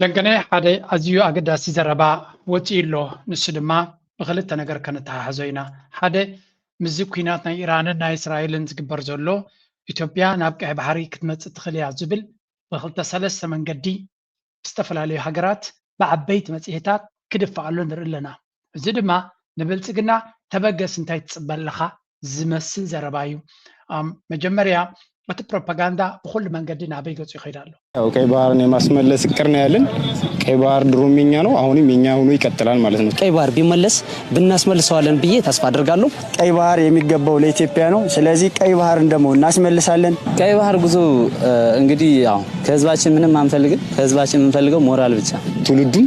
ለንገነ ሓደ ኣዝዩ ኣገዳሲ ዘረባ ወፂኡ ኣሎ ንሱ ድማ ብክልተ ነገር ከነተሓሕዞ ኢና ሓደ ምስዚ ኩናት ናይ ኢራንን ናይ እስራኤልን ዝግበር ዘሎ ኢትዮጵያ ናብ ቀይ ባሕሪ ክትመፅእ ትኽእል እያ ዝብል ብክልተ ሰለስተ መንገዲ ዝተፈላለዩ ሃገራት ብዓበይቲ መፅሄታት ክድፋኣሉ ንርኢ ኣለና እዚ ድማ ንብልፅግና ተበገስ እንታይ ትፅበ ኣለኻ ዝመስል ዘረባ እዩ። መጀመርያ እቲ ፕሮፓጋንዳ ብኹሉ መንገዲ ናበይ ገፁ ይኸይድ ኣሎ? ያው ቀይ ባህርን የማስመለስ እቅር ነው ያለን። ቀይ ባህር ድሮም የኛ ነው፣ አሁንም የኛ ሆኖ ይቀጥላል ማለት ነው። ቀይ ባህር ቢመለስ ብናስመልሰዋለን ብዬ ተስፋ አደርጋለሁ። ቀይ ባህር የሚገባው ለኢትዮጵያ ነው። ስለዚህ ቀይ ባህርን ደግሞ እናስመልሳለን። ቀይ ባህር ጉዞ እንግዲህ ያው ከህዝባችን ምንም አንፈልግም። ከህዝባችን የምንፈልገው ሞራል ብቻ። ትውልዱን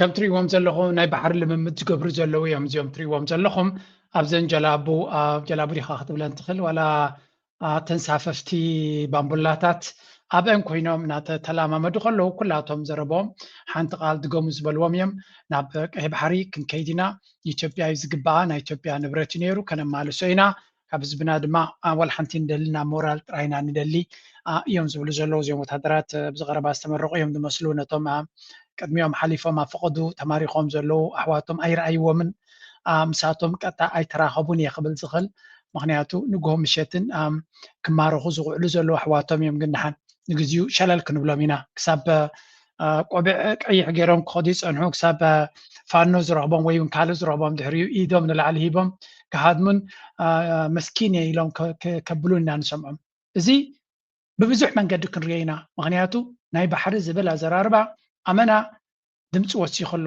ከም ትሪእዎም ዘለኹም ናይ ባሕሪ ልምምድ ዝገብሩ ዘለዉ እዮም እዚኦም ትሪእዎም ዘለኹም ኣብዘን ጀላቡ ጀላቡ ዲኻ ክትብለን ትኽእል ዋላ ተንሳፈፍቲ ባምቡላታት ኣብአን ኮይኖም እናተተላማመዱ ከለዉ ኩላቶም ዘረቦም ሓንቲ ቃል ድገሙ ዝበልዎም እዮም ናብ ቀይ ባሕሪ ክንከይድ ኢና ንኢትዮጵያ እዩ ዝግባኣ ናይ ኢትዮጵያ ንብረት እዩ ነይሩ ከነማልሶ ኢና ካብ ህዝብና ድማ ዋላ ሓንቲ ንደልና ሞራል ጥራይ ኢና ንደሊ እዮም ዝብሉ ዘለዉ እዚኦም ወታደራት ኣብዚ ቀረባ ዝተመረቑ እዮም ዝመስሉ ነቶም ቅድሚኦም ሓሊፎም ኣብ ፈቐዱ ተማሪኾም ዘለዉ ኣሕዋቶም ኣይረኣይዎምን ምሳቶም ቀጥታ ኣይተራኸቡን እየ ክብል ዝኽእል ምክንያቱ ንግሆ ምሸትን ክማረኹ ዝውዕሉ ዘለዉ ኣሕዋቶም እዮም ግን ድሓን ንግዚኡ ሸለል ክንብሎም ኢና ክሳብ ቆቢዕ ቀይሕ ገይሮም ክኸዱ ይጸንሑ ክሳብ ፋኖ ዝረኽቦም ወይ እውን ካልእ ዝረኽቦም ድሕሪኡ ኢዶም ንላዕሊ ሂቦም ክሃድሙን መስኪን እየ ኢሎም ከብሉን ኢና ንሰምዖም እዚ ብብዙሕ መንገዲ ክንሪኦ ኢና ምክንያቱ ናይ ባሕሪ ዝብል ኣዘራርባ ኣመና ድምፂ ወሲኹ ኣሎ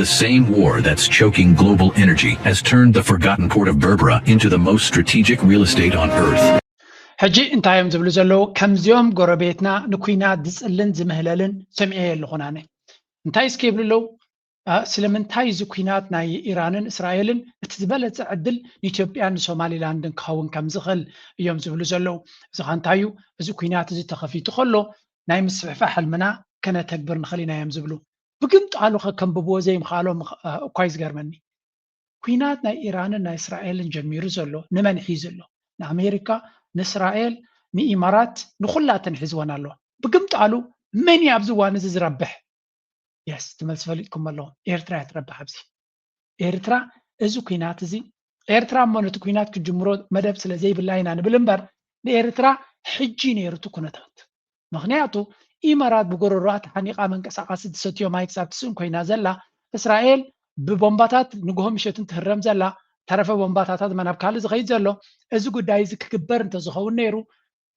The same war that's choking global energy has turned the forgotten port of Berbera into the most strategic real estate on earth. ሕጂ እንታይ እዮም ዝብሉ ዘለዉ ከምዚኦም ጎረቤትና ንኩናት ዝፅልን ዝምህለልን ሰሚዐ የለኹን ኣነ እንታይ እስከ ይብሉ ኣለዉ ስለምንታይ እዚ ኩናት ናይ ኢራንን እስራኤልን እቲ ዝበለፀ ዕድል ንኢትዮጵያን ንሶማሊላንድን ክኸውን ከም ዝኽእል እዮም ዝብሉ ዘለዉ እዚ ኸ እንታይ እዩ እዚ ኩናት እዚ ተኸፊቱ ከሎ ናይ ምስፍሕፋ ሕልምና ከነተግብር ንኽእል ኢና እዮም ዝብሉ ብግምጣሉ ከከንብብዎ ዘይምኽኣሎም እኳ'ዩ ዝገርመኒ። ኲናት ናይ ኢራንን ናይ እስራኤልን ጀሚሩ ዘሎ ንመን ሒዙ ኣሎ? ንኣሜሪካ፣ ንእስራኤል፣ ንኢማራት፣ ንኹላተን ሒዝወን ኣሎ። ብግምጣሉ መን'ዩ ኣብዚ እዋን'ዚ ዝረብሕ? Yes እቲ መልሲ ፈሊጥኩሞ ኣለኹም፣ ኤርትራ'ያ ትረብሕ ኣብዚ። ኤርትራ እዚ ኩናት እዚ ኤርትራ እሞ ነቲ ኩናት ክጅምሮ መደብ ስለ ዘይብላ ኢና ንብል እምበር ንኤርትራ ሕጂ ነይሩ እቲ ኩነታት ምኽንያቱ ኢመራት ብጎረሮኣ ተሓኒቓ መንቀሳቓሲ ትሰትዮ ማይ ክሳብ ትስእን ኮይና ዘላ እስራኤል ብቦምባታት ንግሆ ምሸትን ትህረም ዘላ ተረፈ ቦምባታታት ናብ ካልእ ዝኸይድ ዘሎ እዚ ጉዳይ እዚ ክግበር እንተዝኸውን ነይሩ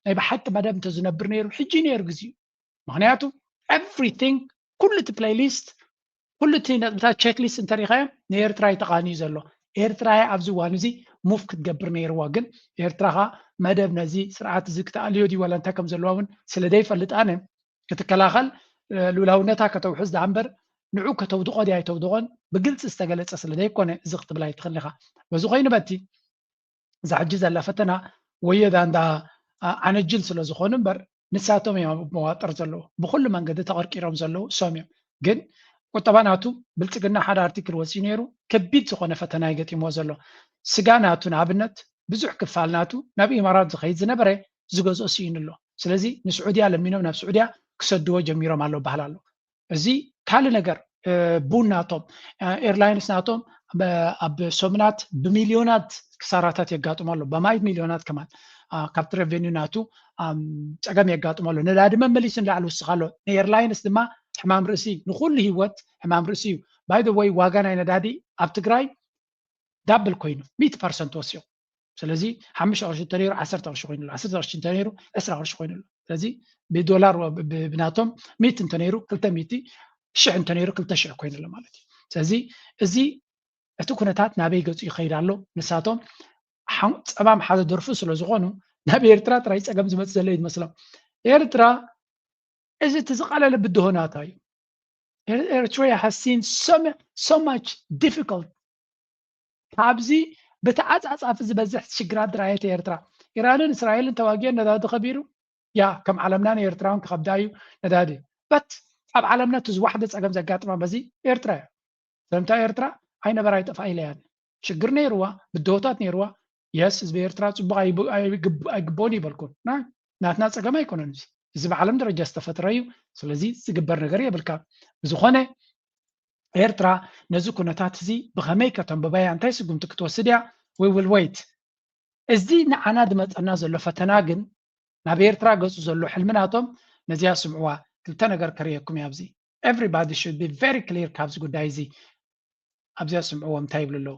ናይ ብሓቂ መደብ እንተዝነብር ነይሩ ሕጂ ነይሩ ግዜኡ ምኽንያቱ ኤቭሪቲንግ ኩሉ እቲ ፕሌይሊስት ኩሉ እቲ ነጥብታት ቸክሊስት እንተሪኢኻዮም ንኤርትራ እዩ ተቃንዩ ዘሎ ኤርትራ እያ ኣብዚ እዋን እዚ ሙፍ ክትገብር ነይርዋ ግን ኤርትራ ከኣ መደብ ነዚ ስርዓት እዚ ክተኣልዮ ድዩ ዋላ እንታይ ከም ዘለዋ እውን ስለ ዘይፈልጥ ኣነ ክትከላኸል ሉላውነታ ከተውሕስ ደኣ እምበር ንዑ ከተውድቖ ድያ ኣይተውድቖን ብግልፂ ዝተገለፀ ስለ ዘይኮነ እዚ ክትብል ኣይትኽእልኻ በዚ ኮይኑ በቲ እዛ ሕጂ ዘላ ፈተና ወዮ ዛንታ ዓነጅል ስለ ዝኾኑ እምበር ንሳቶም እዮም ኣብ መዋጥር ዘለዉ ብኹሉ መንገዲ ተቐርቂሮም ዘለዉ እሶም እዮም ግን ቁጠባ ናቱ ብልፅግና ሓደ ኣርቲክል ወፂኡ ነይሩ ከቢድ ዝኾነ ፈተና እዩ ገጢምዎ ዘሎ ስጋ ናቱ ንኣብነት ብዙሕ ክፋል ናቱ ናብ ኢማራት ዝኸይድ ዝነበረ ዝገዝኦ ስኢኑ ኣሎ ስለዚ ንስዑድያ ለሚኖም ናብ ስዑድያ ክሰድዎ ጀሚሮም ኣሎ በሃል ኣሎ እዚ ካልእ ነገር ቡን ናቶም ኤርላይንስ ናቶም ኣብ ሰሙናት ብሚልዮናት ክሳራታት የጋጥሞ ኣሎ በማይ ሚልዮናት ከማን ካብቲ ረቨኒዩ ናቱ ፀገም የጋጥሞ ኣሎ ነዳዲ መመሊሱ ንላዕሊ ውስኽ ኣሎ ንኤርላይንስ ድማ ሕማም ርእሲ ንኩሉ ሂወት ሕማም ርእሲ እዩ ባይ ወይ ዋጋ ናይ ነዳዲ ኣብ ትግራይ ዳብል ኮይኑ ሚእቲ ፐርሰንት ወሲኹ ስለዚ ሓሙሽተ ቅርሺ እንተነይሩ ዓሰርተ ቅርሺ ኮይኑ ኣሎ ዓሰርተ ቅርሺ እንተነይሩ ዕስራ ቅርሺ ኮይኑ ኣሎ ስለዚ ብዶላር ብናቶም ሚእቲ እንተነይሩ ክልተ ሚእቲ ሽሕ እንተነይሩ ክልተ ሽሕ ኮይኑ ኣሎ ማለት እዩ ስለዚ እዚ እቲ ኩነታት ናበይ ገፁ ይኸይድ ኣሎ ንሳቶም ፀባም ሓደ ደርፉ ስለ ዝኾኑ ናብ ኤርትራ ጥራይ ፀገም ዝመፅ ዘሎ እዩ ዝመስሎም ኤርትራ እዚ እቲ ዝቐለለ ብድሆናታ እዩ ኤርትራ ሃሲን ሶ ማች ዲፊካልት ኣብዚ ብተዓጻጻፊ ዝበዝሕ ሽግራት ድራየት ኤርትራ ኢራንን እስራኤልን ተዋጊዮን ነዳዲ ከቢሩ ያ ከም ዓለምና ንኤርትራውን ክኸብዳ እዩ ነዳዲ በት ኣብ ዓለምና እቲ ዝዋሕደ ጸገም ዘጋጥማ በዚ ኤርትራ እዩ ዘምታ ኤርትራ ኣይነበራ ኣይጠፍኣ ኢለያን ሽግር ነይርዋ ብድሆታት ነይርዋ የስ ህዝቢ ኤርትራ ጽቡቅ ኣይግብኦን እይበልኩን ናይ ናትና ጸገም ኣይኮነን እዚ እዚ ብዓለም ደረጃ ዝተፈጥረ እዩ ስለዚ ዝግበር ነገር የብልካ ብዝኾነ ኤርትራ ነዚ ኩነታት እዚ ብኸመይ ከተንብባ እያ እንታይ ስጉምቲ ክትወስድ እያ ዊ ዊል ወይት እዚ ንዓና ዝመፀና ዘሎ ፈተና ግን ናብ ኤርትራ ገጹ ዘሎ ሕልሚ ናቶም ነዚኣ ስምዕዋ ክልተ ነገር ከርእየኩም እያ ኣብዚ ኤቭሪባዲ ሹድ ቢ ቨሪ ክሊር ካብዚ ጉዳይ እዚ ኣብዚኣ ስምዕዎም እንታይ ይብሉ ኣለዉ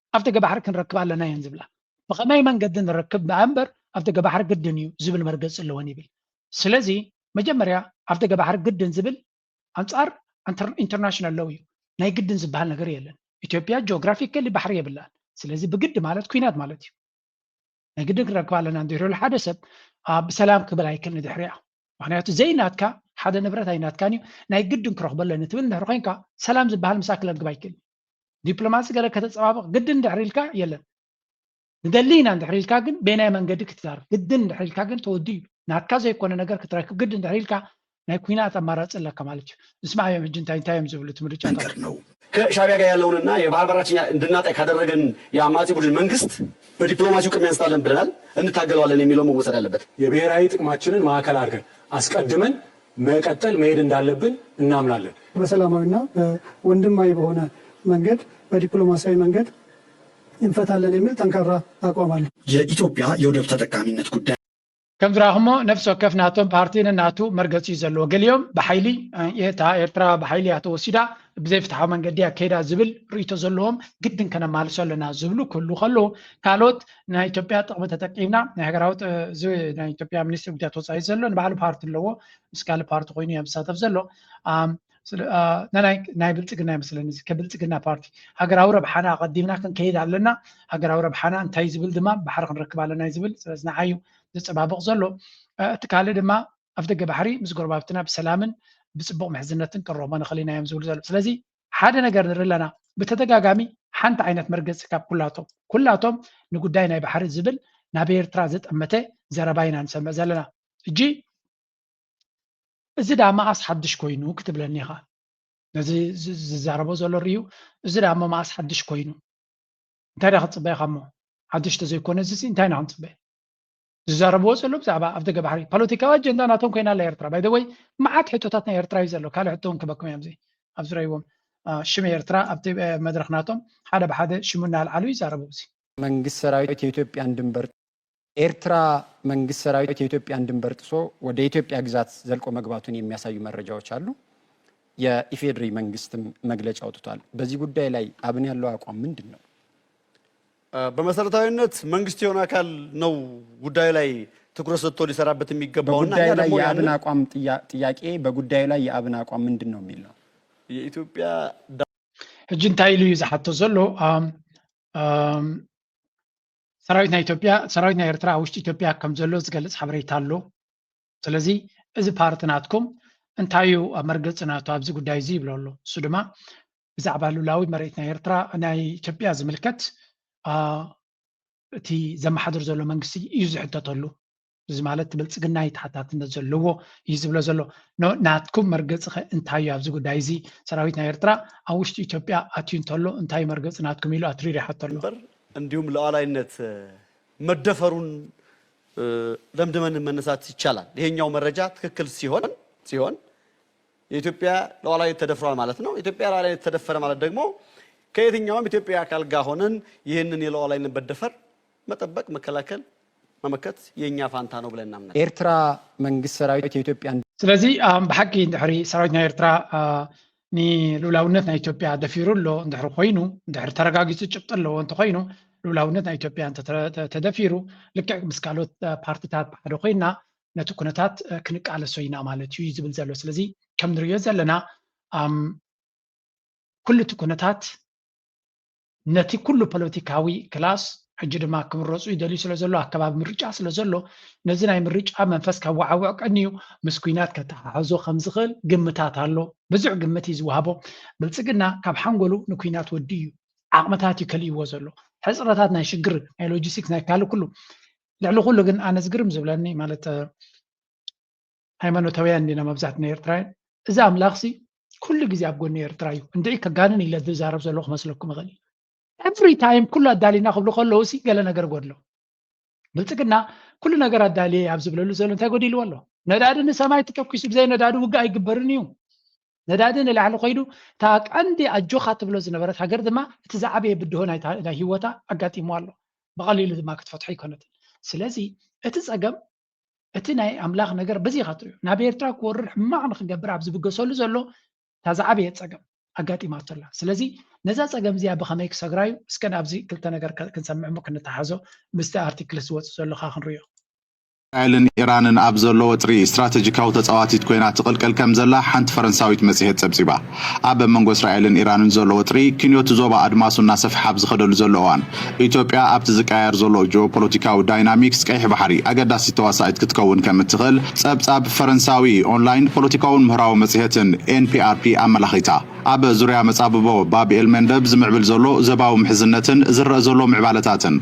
ኣብ ደገ ባሕሪ ክንረክብ ኣለና እየን ዝብላ። ብኸመይ መንገዲ ንረክብ ደኣ እምበር ኣብ ደገ ባሕሪ ግድን እዩ ዝብል መርገጺ ኣለወን ይብል። ስለዚ መጀመርያ ኣብ ደገ ባሕሪ ግድን ዝብል ኣንጻር ኢንተርናሽናል ሎው እዩ። ናይ ግድን ዝበሃል ነገር የለን። ኢትዮጵያ ጂኦግራፊካሊ ባሕሪ የብላን። ስለዚ ብግዲ ማለት ኲናት ማለት እዩ። ናይ ግድን ክንረክብ ኣለና እንድሕሪ ኢሉ ሓደ ሰብ ብሰላም ክብል ኣይክእልን ንድሕሪኣ። ምክንያቱ ዘይናትካ ሓደ ንብረት ኣይናትካን እዩ ናይ ግድን ክረክቦ ኣለኒ ትብል እንድሕሪ ኮንካ ሰላም ዝበሃል ምሳክ ክለግብ ኣይክእልን። ዲፕሎማሲ ገለ ከተፀባብቕ ግድን ድሕሪ ኢልካ የለን ንደሊ ኢና እንድሕሪ ኢልካ ግን በየናይ መንገዲ ክትዛርብ ግድን እንድሕሪ ኢልካ ግን ተወዲ እዩ ናትካ ዘይኮነ ነገር ክትረክብ ግድን ድሕሪ ኢልካ ናይ ኩናት ኣማራፂ ኣለካ ማለት እዩ ንስማዕ እዮም ሕጂ እንታይ እንታይ እዮም ዝብሉ እቲ ምርጫታት ነው ከሻቢያ ጋር ያለውንና የባህር በራችን እንድናጣይ ካደረገን የአማጺ ቡድን መንግስት በዲፕሎማሲው ቅድሚያ እንስጣለን ብለናል እንታገለዋለን የሚለው መወሰድ አለበት። የብሔራዊ ጥቅማችንን ማዕከል አድርገን አስቀድመን መቀጠል መሄድ እንዳለብን እናምናለን። በሰላማዊ እና ወንድማዊ በሆነ መንገድ በዲፕሎማሲያዊ መንገድ እንፈታለን የሚል ጠንካራ አቋም አለ። የኢትዮጵያ የወደብ ተጠቃሚነት ጉዳይ ከም ዝረኣኹሞ ነፍሲ ወከፍ ናቶም ፓርቲ ነናቱ መርገፂ እዩ ዘለዎ ገሊኦም ብሓይሊ እታ ኤርትራ ብሓይሊ እያ ተወሲዳ ብዘይፍትሓዊ መንገዲ ኣካይዳ ዝብል ርእይቶ ዘለዎም ግድን ከነማልሶ ኣለና ዝብሉ ክህሉ ከለዉ ካልኦት ናይ ኢትዮጵያ ጥቕሚ ተጠቂምና ናይ ሃገራዊ እዚ ናይ ኢትዮጵያ ሚኒስትሪ ጉዳያት ወፃኢ ዘሎ ንባዕሉ ፓርቲ ኣለዎ ምስ ካልእ ፓርቲ ኮይኑ እያ ዝሳተፍ ዘሎ ናይ ብልፅግና ይመስለኒ እዚ ከብልፅግና ፓርቲ ሃገራዊ ረብሓና ኣቐዲምና ክንከይድ ኣለና ሃገራዊ ረብሓና እንታይ ዝብል ድማ ባሕሪ ክንረክብ ኣለና ዝብል ስለዚ ንዓዩ ዘፀባብቕ ዘሎ እቲ ካልእ ድማ ኣፍ ደገ ባሕሪ ምስ ጎረባብትና ብሰላምን ብፅቡቕ ምሕዝነትን ክንረኽቦ ንኽእል ኢና እዮም ዝብሉ ዘሎ ስለዚ ሓደ ነገር ንርኢ ኣለና ብተደጋጋሚ ሓንቲ ዓይነት መርገፂ ካብ ኩላቶም ኩላቶም ንጉዳይ ናይ ባሕሪ ዝብል ናብ ኤርትራ ዘጠመተ ዘረባ ኢና ንሰምዕ ዘለና እጂ እዚ ዳኣ መኣስ ሓድሽ ኮይኑ ክትብለኒ ኢኻ ነዚ ዝዛረቦ ዘሎ ርዩ እዚ ዳኣ እሞ መኣስ ሓድሽ ኮይኑ እንታይ ዳ ክትፅበ ኢኻ እሞ ሓድሽ ተዘይኮነ እዚ እንታይ ኢና ክንፅበ ዝዛረብዎ ዘሎ ብዛዕባ ኣብ ደገ ባሕሪ ፖለቲካዊ ኣጀንዳ ናቶም ኮይና ኣላ ኤርትራ ባይ ወይ መዓት ሕቶታት ናይ ኤርትራ እዩ ዘሎ ካልእ ሕቶ እውን ክበኩም እዮም ኣብዚ ረይዎም ሽመ ኤርትራ ኣብቲ መድረክ ናቶም ሓደ ብሓደ ሽሙ እናልዓሉ ይዛረቡ እዚ መንግስት ሰራዊት የኢትዮጵያን ድንበር ኤርትራ መንግስት ሰራዊት የኢትዮጵያን ድንበር ጥሶ ወደ ኢትዮጵያ ግዛት ዘልቆ መግባቱን የሚያሳዩ መረጃዎች አሉ። የኢፌድሪ መንግስትም መግለጫ አውጥቷል። በዚህ ጉዳይ ላይ አብን ያለው አቋም ምንድን ነው? በመሰረታዊነት መንግስት የሆነ አካል ነው ጉዳዩ ላይ ትኩረት ሰጥቶ ሊሰራበት የሚገባው እና እኛ ደግሞ የአብን አቋም ጥያቄ በጉዳዩ ላይ የአብን አቋም ምንድን ነው የሚል ነው የኢትዮጵያ ሕጂ እንታይ ኢሉ እዩ ዝሓቶ ዘሎ ሰራዊት ናይ ኢትዮጵያ ሰራዊት ናይ ኤርትራ ኣብ ውሽጢ ኢትዮጵያ ከም ዘሎ ዝገልፅ ሓበሬታ ኣሎ ስለዚ እዚ ፓርቲ ናትኩም እንታይ እዩ ኣብ መርገፂ ናቱ ኣብዚ ጉዳይ እዚ ይብሎ ኣሎ እሱ ድማ ብዛዕባ ሉላዊ መሬት ናይ ኤርትራ ናይ ኢትዮጵያ ዝምልከት እቲ ዘመሓድር ዘሎ መንግስቲ እዩ ዝሕተተሉ እዚ ማለት ብልፅግና እዩ ተሓታትነት ዘለዎ እዩ ዝብሎ ዘሎ ናትኩም መርገፂ ከ እንታይ እዩ ኣብዚ ጉዳይ እዚ ሰራዊት ናይ ኤርትራ ኣብ ውሽጢ ኢትዮጵያ ኣትዩ እንተሎ እንታይ እዩ መርገፂ ናትኩም ኢሉ ኣትሪር ይሓቶ ኣሎ እምበር እንዲሁም ሉዓላይነት መደፈሩን ደምድመን መነሳት ይቻላል። ይሄኛው መረጃ ትክክል ሲሆን ሲሆን የኢትዮጵያ ሉዓላዊነት ተደፍሯል ማለት ነው። ኢትዮጵያ ሉዓላዊነት ተደፈረ ማለት ደግሞ ከየትኛውም ኢትዮጵያዊ አካል ጋር ሆነን ይህንን የሉዓላዊነት መደፈር መጠበቅ፣ መከላከል፣ መመከት የእኛ ፋንታ ነው ብለን እናምናለን። ኤርትራ መንግስት ሰራዊት የኢትዮጵያ ስለዚ ብሓቂ ድሕሪ ሰራዊት ናይ ኤርትራ ንልኡላውነት ናይ ኢትዮጵያ ደፊሩ ኣሎ እንድሕሪ ኮይኑ እንድሕሪ ተረጋጊፁ ጭብጢ ኣለዎ እንተኮይኑ ልኡላውነት ናይ ኢትዮጵያ ተደፊሩ ልክዕ ምስ ካልኦት ፓርቲታት ሓደ ኮይና ነቲ ኩነታት ክንቃለሶ ኢና ማለት እዩ ዝብል ዘሎ ስለዚ ከም ንሪኦ ዘለና ኩሉ እቲ ኩነታት ነቲ ኩሉ ፖለቲካዊ ክላስ ሕጂ ድማ ክምረፁ ይደልዩ ስለ ዘሎ ኣከባቢ ምርጫ ስለ ዘሎ ነዚ ናይ ምርጫ መንፈስ ከዋዓውዕ ቀንዩ ምስ ኩናት ከተሓሕዞ ከም ዝኽእል ግምታት ኣሎ ብዙሕ ግምት እዩ ዝወሃቦ ብልፅግና ካብ ሓንጎሉ ንኩናት ወዲ እዩ ዓቕምታት እዩ ከልእዎ ዘሎ ሕፅረታት ናይ ሽግር ናይ ሎጂስቲክስ ናይ ካልእ ኩሉ ልዕሊ ኩሉ ግን ኣነ ዝግርም ዝብለኒ ማለት ሃይማኖታውያን እንዲና መብዛሕትና ኤርትራውያን እዚ ኣምላኽሲ ኩሉ ግዜ ኣብ ጎኒ ኤርትራ እዩ እንድዒ ከጋንን ኢለ ዝዛረብ ዘሎ ክመስለኩም ይኽእል ኤቭሪ ታይም ኩሉ ኣዳሊና ክብሉ ከለዉ ሲ ገለ ነገር ጎድሎ ብልፅግና ኩሉ ነገር ኣዳልየ ኣብ ዝብለሉ ዘሎ እንታይ ጎዲልዎ ኣሎ ነዳዲ ንሰማይ ተተኪሱ ብዘይ ነዳዲ ውግእ ኣይግበርን እዩ ነዳዲ ንላዕሊ ኮይዱ እታ ቀንዲ ኣጆኻ ትብሎ ዝነበረት ሃገር ድማ እቲ ዝዓበየ ብድሆ ናይ ሂወታ ኣጋጢምዋ ኣሎ ብቐሊሉ ድማ ክትፈትሖ ኣይኮነትን ስለዚ እቲ ጸገም እቲ ናይ ኣምላኽ ነገር በዚ ኢኻ ትሪኦ ናብ ኤርትራ ክወርር ሕማቕ ንክገብር ኣብ ዝብገሰሉ ዘሎ እታ ዝዓበየ ጸገም ኣጋጢማቶ ኣላ ስለዚ ነዛ ፀገም እዚኣ ብኸመይ ክሰግራ እዩ እስከ ኣብዚ ክልተ ነገር ክንሰምዕ እሞ ክንተሓዞ ምስቲ ኣርቲክልስ ዝወፅእ ዘሎካ ክንሪኦ እስራኤልን ኢራንን ኣብ ዘሎ ወጥሪ፣ ስትራተጂካዊ ተጻዋቲት ኮይና ትቕልቀል ከም ዘላ ሓንቲ ፈረንሳዊት መጽሔት ጸብጺባ። ኣብ መንጎ እስራኤልን ኢራንን ዘሎ ወጥሪ፣ ክንዮ'ቲ ዞባ ኣድማሱ እናሰፍሐ ኣብ ዝኸደሉ ዘሎ እዋን፣ ኢትዮጵያ ኣብቲ ዝቀያየር ዘሎ ጂኦፖለቲካዊ ዳይናሚክስ ቀይሕ ባሕሪ ኣገዳሲት ተዋሳኢት ክትከውን ከም እትኽእል ጸብጻብ ፈረንሳዊ ኦንላይን ፖለቲካውን ምህራዊ መጽሔትን ኤንፒኣርፒ ኣመላኺታ። ኣብ ዙርያ መጻብቦ ባብ ኤልመንደብ ዝምዕብል ዘሎ ዘባዊ ምሕዝነትን ዝረእ ዘሎ ምዕባለታትን፣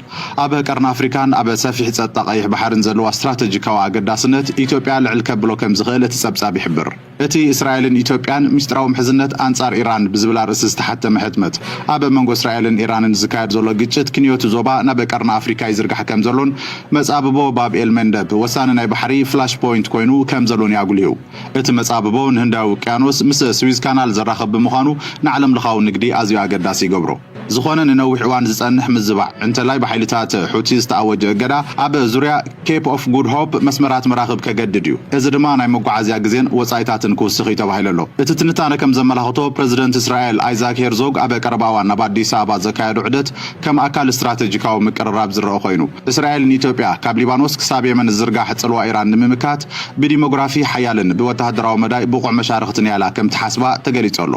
ኣብ ቀርኒ ኣፍሪካን ኣብ ሰፊሕ ጸጥታ ቀይሕ ባሕርን ዘለዋ ስትራተጂካዊ ኣገዳስነት ኢትዮጵያ ልዕል ከብሎ ከምዝኽእል እቲ ጸብጻብ ይሕብር። እቲ እስራኤልን ኢትዮጵያን ሚስጥራዊ ምሕዝነት ኣንጻር ኢራን ብዝብል ኣርእስቲ ዝተሓተመ ሕትመት፣ ኣብ መንጎ እስራኤልን ኢራንን ዝካየድ ዘሎ ግጭት ክንዮ'ቲ ዞባ ናብ ቀርኒ ኣፍሪካ ይዝርጋሕ ከምዘሎን መጻብቦ ባብ ኤልመንደብ ወሳኒ ናይ ባሕሪ ፍላሽ ፖይንት ኮይኑ ከምዘሎን'ዩ ኣጉሊሁ። እቲ መጻብቦ ንህንዳዊ ውቅያኖስ ምስ ስዊዝ ካናል ዘራኽብ ብምዃኑ ንዓለምለኻዊ ንግዲ ኣዝዩ ኣገዳሲ ይገብሮ። ዝኾነ ንነዊሕ እዋን ዝጸንሕ ምዝባዕ፣ እንተላይ ብሓይልታት ሑቲ ዝተኣወጀ እገዳ፣ ኣብ ዙርያ ኬፕ ኦፍ ጉድ ሆፕ መስመራት መራኽብ ከገድድ እዩ፣ እዚ ድማ ናይ መጓዓዝያ ግዜን ወጻኢታትን ክውስኽ እዩ ተባሂሉ ኣሎ። እቲ ትንታነ ከም ዘመላኽቶ፣ ፕረዚደንት እስራኤል ኣይዛክ ሄርዞግ ኣብ ቀረባ እዋን ናብ ኣዲስ ኣበባ ዘካየዶ ዑደት ከም ኣካል ስትራተጂካዊ ምቅርራብ ዝረኣ ኮይኑ፣ እስራኤል ንኢትዮጵያ ካብ ሊባኖስ ክሳብ የመን ዝዝርጋሕ ጽልዋ ኢራን ንምምካት ብዲሞግራፊ ሓያልን ብወተሃደራዊ መዳይ ብቑዕ መሻርኽትን እያ ኢላ ከም ትሓስባ ተገሊጹ ኣሎ።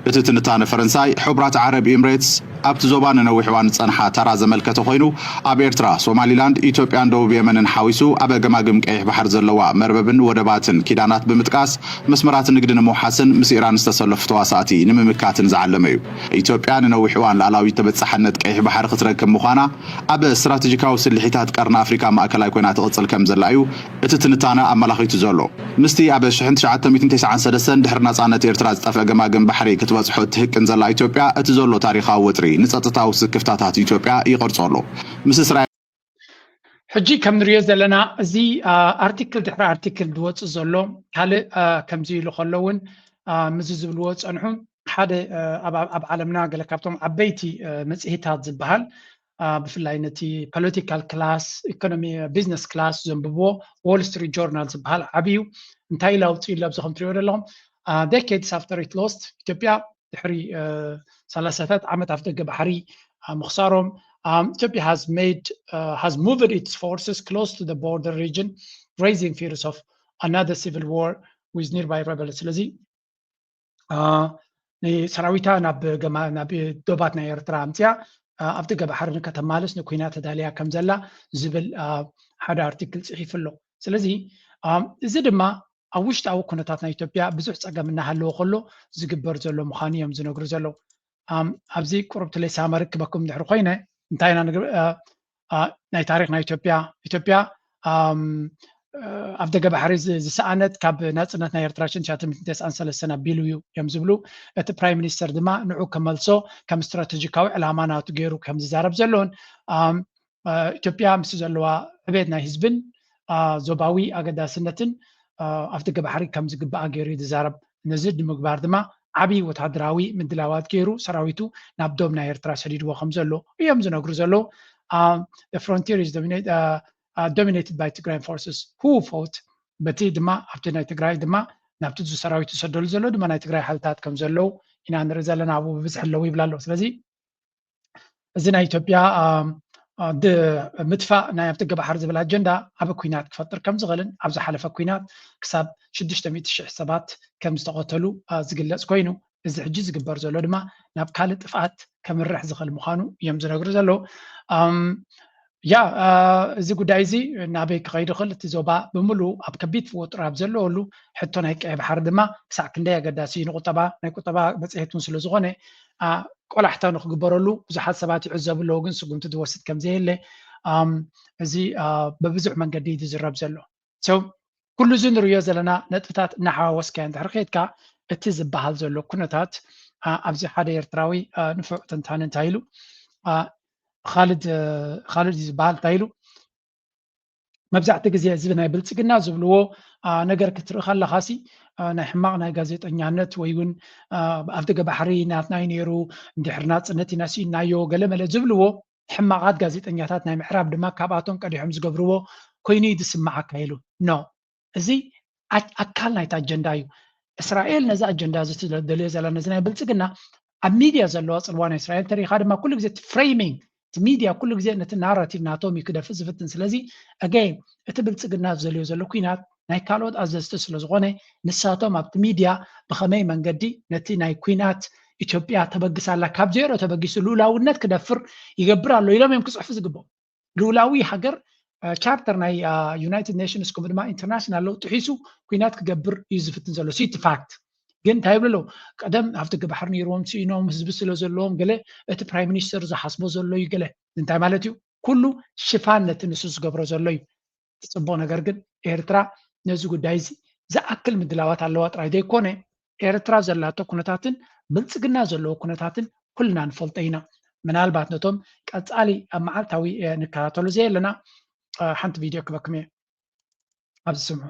እቲ ትንታነ ፈረንሳይ፣ ሕቡራት ዓረብ ኢምሬትስ ኣብቲ ዞባ ንነዊሕ እዋን ዝጸንሓ ተራ ዘመልከተ ኮይኑ፣ ኣብ ኤርትራ፣ ሶማሊላንድ፣ ኢትዮጵያን ደቡብ የመንን ሓዊሱ ኣብ ገማግም ቀይሕ ባሕሪ ዘለዋ መርበብን ወደባትን ኪዳናት ብምጥቃስ መስመራት ንግዲ ንምውሓስን ምስ ኢራን ዝተሰለፉ ተዋሳእቲ ንምምካትን ዝዓለመ'ዩ። ኢትዮጵያ ንነዊሕ እዋን ልኣላዊት ተበጻሓነት ቀይሕ ባሕሪ ክትረክብ ምዃና ኣብ ስትራተጂካዊ ስልሒታት ቀርኒ ኣፍሪካ ማእከላይ ኮይና ትቕጽል ከምዘላ እዩ እቲ ትንታነ ኣመላኺቱ ዘሎ። ምስቲ ኣብ ሽሕን ትሽዓተ ሚእትን ተስዓን ሰለስተን ድሕሪ ናጻነት ኤርትራ ዝጠፍአ ገማግም ባሕሪ ክትበጽሖ እትህቅን ዘላ ኢትዮጵያ እቲ ዘሎ ታሪኻዊ ወጥሪ ንጸጥታዊ ስክፍታታት ኢትዮጵያ ይቐርጾ ኣሎ። ምስ እስራኤል። ሕጂ ከም ንሪኦ ዘለና እዚ ኣርቲክል ድሕሪ ኣርቲክል ዝወፅእ ዘሎ ካልእ ከምዚ ኢሉ ከሎ እውን ምዚ ዝብልዎ ፀንሑ ሓደ ኣብ ዓለምና ገለ ካብቶም ዓበይቲ መፅሄታት ዝበሃል ብፍላይ ነቲ ፖለቲካል ክላስ ኢኮኖሚ ቢዝነስ ክላስ ዘንብብዎ ዎል ስትሪት ጆርናል ዝበሃል ዓብዩ እንታይ ኢሉ ኣውፅእሉ ኣብዚ ከም ትሪኦ ዘለኹም ዴኬድስ ኣፍተር ኢት ሎስት ኢትዮጵያ ድሕሪ ሰላሳታት ዓመት ኣፍ ደገ ባሕሪ ምኽሳሮም ኢትዮጵያ ሃዝ ሜድ ሃዝ ሙቭድ ኢትስ ፎርስስ ክሎስ ቱ ዘ ቦርደር ሪጅን ሬይዚንግ ፊርስ ኦፍ ኣናዘር ሲቪል ዋር ዊዝ ኒርባይ ረበል ስለዚ ንሰራዊታ ናብ ገማ ናብ ዶባት ናይ ኤርትራ ኣምፅያ ኣብ ደገ ባሕሪ ንከተማልስ ንኩናት ተዳልያ ከም ዘላ ዝብል ሓደ ኣርቲክል ፅሒፉ ኣሎ ስለዚ እዚ ድማ ኣብ ውሽጣዊ ኩነታት ናይ ኢትዮጵያ ብዙሕ ፀገም እናሃለወ ከሎ ዝግበር ዘሎ ምዃኑ እዮም ዝነግሩ ዘለዉ። ኣብዚ ቁሩብ ትሌሳ መርክበኩም ድሕሪ ኮይነ እንታይ ኢና ናይ ታሪክ ናይ ኢትዮጵያ ኢትዮጵያ ኣብ ደገ ባሕሪ ዝሰኣነት ካብ ናፅነት ናይ ኤርትራ ሽን ትሽዓተ ሚእትን ተስዓን ሰለስተን ኣቢሉ እዩ እዮም ዝብሉ እቲ ፕራይም ሚኒስተር ድማ ንዑ ከመልሶ ከም ስትራተጂካዊ ዕላማ ናቱ ገይሩ ከም ዝዛረብ ዘሎን ኢትዮጵያ ምስ ዘለዋ ዕቤት ናይ ህዝብን ዞባዊ ኣገዳስነትን ኣፍ ደገ ባሕሪ ከም ዝግብኣ ገይሩ እዩ ዝዛረብ። ነዚ ንምግባር ድማ ዓብዪ ወተሃደራዊ ምድላዋት ገይሩ ሰራዊቱ ናብ ዶብ ናይ ኤርትራ ሰዲድዎ ከም ዘሎ እዮም ዝነግሩ ዘለዉ። ፍሮንቲር ዶሚኔትድ ባይ ትግራይ ፎርስስ ሁ ፎት በቲ ድማ ኣብቲ ናይ ትግራይ ድማ ናብቲ እዚ ሰራዊት ዝሰደሉ ዘሎ ድማ ናይ ትግራይ ሓይልታት ከም ዘለዉ ኢና ንርኢ ዘለና ኣብኡ ብብዝሒ ኣለዉ ይብላ ኣለዉ ስለዚ እዚ ናይ ኢትዮጵያ ምጥፋእ ናይ ኣብ ጥገ ባሕሪ ዝብል ኣጀንዳ ዓብ ኩናት ክፈጥር ከም ዝኽእልን ኣብ ዝሓለፈ ኩናት ክሳብ 600 ሽሕ ሰባት ከም ዝተቐተሉ ዝግለጽ ኮይኑ እዚ ሕጂ ዝግበር ዘሎ ድማ ናብ ካልእ ጥፍኣት ከምርሕ ዝኽእል ምዃኑ እዮም ዝነግሩ ዘለዉ። ያ እዚ ጉዳይ እዚ ናበይ ክኸይድ ይኽእል እቲ ዞባ ብምልኡ ኣብ ከቢድ ፍወጥሮ ኣብ ዘለወሉ ሕቶ ናይ ቀይ ባሕሪ ድማ ክሳዕ ክንደይ ኣገዳሲ እዩ ንቁጠባ ናይ ቁጠባ መፅሄት እውን ስለዝኾነ ቆላሕታ ንክግበረሉ ብዙሓት ሰባት ይዕዘቡ ኣለዉ ግን ስጉምቲ ዝወስድ ከምዘየለ እዚ በብዙሕ መንገዲ ዝዝረብ ዘሎ ሶ ኩሉ እዚ ንርእዮ ዘለና ነጥብታት እናሓዋወስካዮ እንድሕር ኬድካ እቲ ዝበሃል ዘሎ ኩነታት ኣብዚ ሓደ ኤርትራዊ ንፉዕ ተንታኒ እንታይ ኢሉ ኻልድ ኻልድ እዩ ዝበሃል እንታይ ኢሉ መብዛሕትኡ ግዜ እዚ ናይ ብልፅግና ዝብልዎ ነገር ክትርኢ ከለካ ሲ ናይ ሕማቅ ናይ ጋዜጠኛነት ወይ እውን ኣብ ደገ ባሕሪ ናትና እዩ ነይሩ እንድሕር ናፅነት ኢና ስኢንናዮ ገለመለ ዝብልዎ ሕማቓት ጋዜጠኛታት ናይ ምዕራብ ድማ ካብኣቶም ቀዲሖም ዝገብርዎ ኮይኑ እዩ ዝስምዓካ ኢሉ። No። እዚ ኣካል ናይቲ ኣጀንዳ እዩ። እስራኤል ነዚ ኣጀንዳ እዚ ትደልዮ ዘላ ነዚ ናይ ብልጽግና ኣብ ሚድያ ዘለዋ ጽልዋ ናይ እስራኤል እንተሪኢኻ ድማ ኩሉ ግዜ እቲ ፍሬሚንግ እቲ ሚድያ ኩሉ ግዜ ነቲ ናራቲቭ ናቶም እዩ ክደፍእ ዝፍትን ስለዚ Again እቲ ብልጽግና ዝደልዮ ዘሎ ኲናት ናይ ካልኦት ኣዘዝቲ ስለዝኾነ ንሳቶም ኣብቲ ሚድያ ብኸመይ መንገዲ ነቲ ናይ ኩናት ኢትዮጵያ ተበግስ ኣላ ካብ ዜሮ ተበጊሱ ልኡላውነት ክደፍር ይገብር ኣሎ ኢሎም እዮም ክፅሕፉ ዝግብኦም ልኡላዊ ሃገር ቻርተር ናይ ዩናይትድ ኔሽንስ ከምኡ ድማ ኢንተርናሽናል ለውጢ ሒሱ ኩናት ክገብር እዩ ዝፍትን ዘሎ ሲቲ ፋክት ግን እንታይ ይብሉ ኣለዉ ቀደም ኣብቲ ግባሕር ነይሮም ስኢኖም ህዝቢ ስለ ዘለዎም ገለ እቲ ፕራይም ሚኒስተር ዝሓስቦ ዘሎ እዩ ገለ እንታይ ማለት እዩ ኩሉ ሽፋን ነቲ ንሱ ዝገብሮ ዘሎ እዩ እቲ ፅቡቕ ነገር ግን ኤርትራ ነዚ ጉዳይ እዚ ዝኣክል ምድላዋት ኣለዋ ጥራይ ዘይኮነ ኤርትራ ዘላቶ ኩነታትን ብልፅግና ዘለዎ ኩነታትን ኩልና ንፈልጦ ኢና። ምናልባት ነቶም ቀፃሊ ኣብ መዓልታዊ ንከታተሎ ዘየለና ሓንቲ ቪድዮ ክበክም እየ ኣብዚ ስምዑ።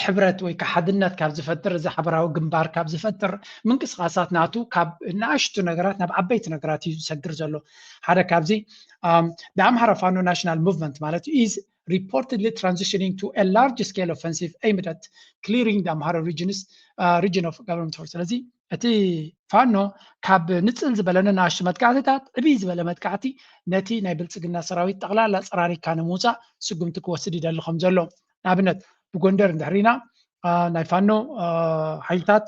ሕብረት ወይ ከዓ ሓድነት ካብ ዝፈጥር እዚ ሓበራዊ ግንባር ካብ ዝፈጥር ምንቅስቃሳት ናቱ ካብ ንኣሽቱ ነገራት ናብ ዓበይቲ ነገራት እዩ ዝሰግር ዘሎ ሓደ ካብዚ ብኣምሃራ ፋኖ ናሽናል ሙቭመንት ማለት እዩ ኢዝ reportedly transitioning to a large scale offensive aimed at clearing the Amhara regions, uh, region of government force. ስለዚ እቲ ፋኖ ካብ ንፅል ዝበለ ንኣሽቱ መጥቃዕትታት ዕብይ ዝበለ መጥቃዕቲ ነቲ ናይ ብልፅግና ሰራዊት ጠቕላላ ፀራሪካ ንምውፃእ ስጉምቲ ክወስድ ይደሊ ከም ዘሎ ንኣብነት ብጎንደር እንድሕር ኢና ናይ ፋኖ ሓይልታት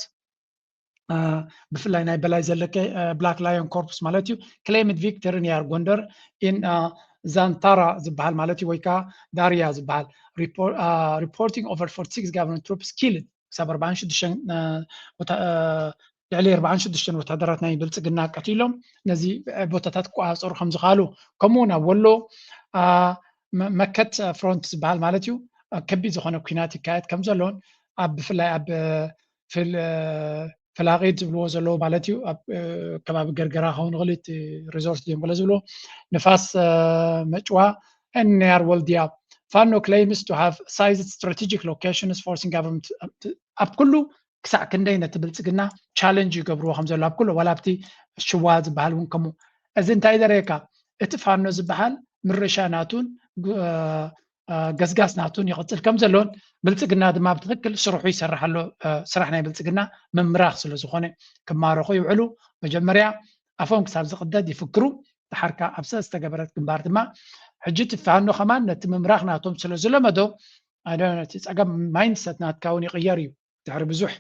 ብፍላይ ናይ በላይ ዘለቀ ብላክ ላዮን ኮርፕስ ማለት እዩ ክሌምድ ቪክተር ኒያር ጎንደር ኢን ዛንታራ ዝበሃል ማለት እዩ ወይ ከዓ ዳርያ ዝበሃል ሪፖርቲንግ ኦቨር 46 ጋቨርንመንት ትሩፕስ ኪልድ ክሳብ ኣርባዓን ሽዱሽተን ልዕሊ ኣርባዓን ሽዱሽተን ወታደራት ናይ ብልፅግና ቀቲሎም ነዚ ቦታታት ክቆፃፀሩ ከም ዝኸኣሉ ከምኡ እውን ኣብ ወሎ መከት ፍሮንት ዝበሃል ማለት እዩ ከቢድ ዝኾነ ኩናት ይካየድ ከም ዘሎን ኣብ ብፍላይ ኣብ ፍላቂት ዝብልዎ ዘለዉ ማለት እዩ ኣብ ከባቢ ገርገራ ክኸውን ይኽእል እቲ ሪዞርት እዮም ገለ ዝብልዎ ንፋስ መጭዋ and Nayar Waldia. Fano claims to have seized strategic locations forcing government ኣብ ኩሉ ክሳዕ ክንደይ ነቲ ብልፅግና ቻለንጅ ይገብርዎ ከም ዘሎ ኣብ ኩሉ ዋላ ኣብቲ ሽዋ ዝበሃል እውን ከምኡ እዚ እንታይ ዘርእየካ እቲ ፋኖ ዝበሃል ምርሻ ናቱን ገስጋስ ናቱን ይቕፅል ከም ዘሎን ብልፅግና ድማ ብትኽክል ስርሑ ይሰርሕ ኣሎ ስራሕ ናይ ብልፅግና ምምራኽ ስለ ዝኾነ ክማረኹ ይውዕሉ መጀመርያ ኣፎም ክሳብ ዝቕደድ ይፍክሩ ድሓር ካብ ኣብ ዝተገበረት ግንባር ድማ ሕጂ እቲ ፋኖ ከማን ነቲ ምምራኽ ናቶም ስለ ዝለመዶ እቲ ፀገም ማይንድሰት ናትካ እውን ይቕየር እዩ ድሕሪ ብዙሕ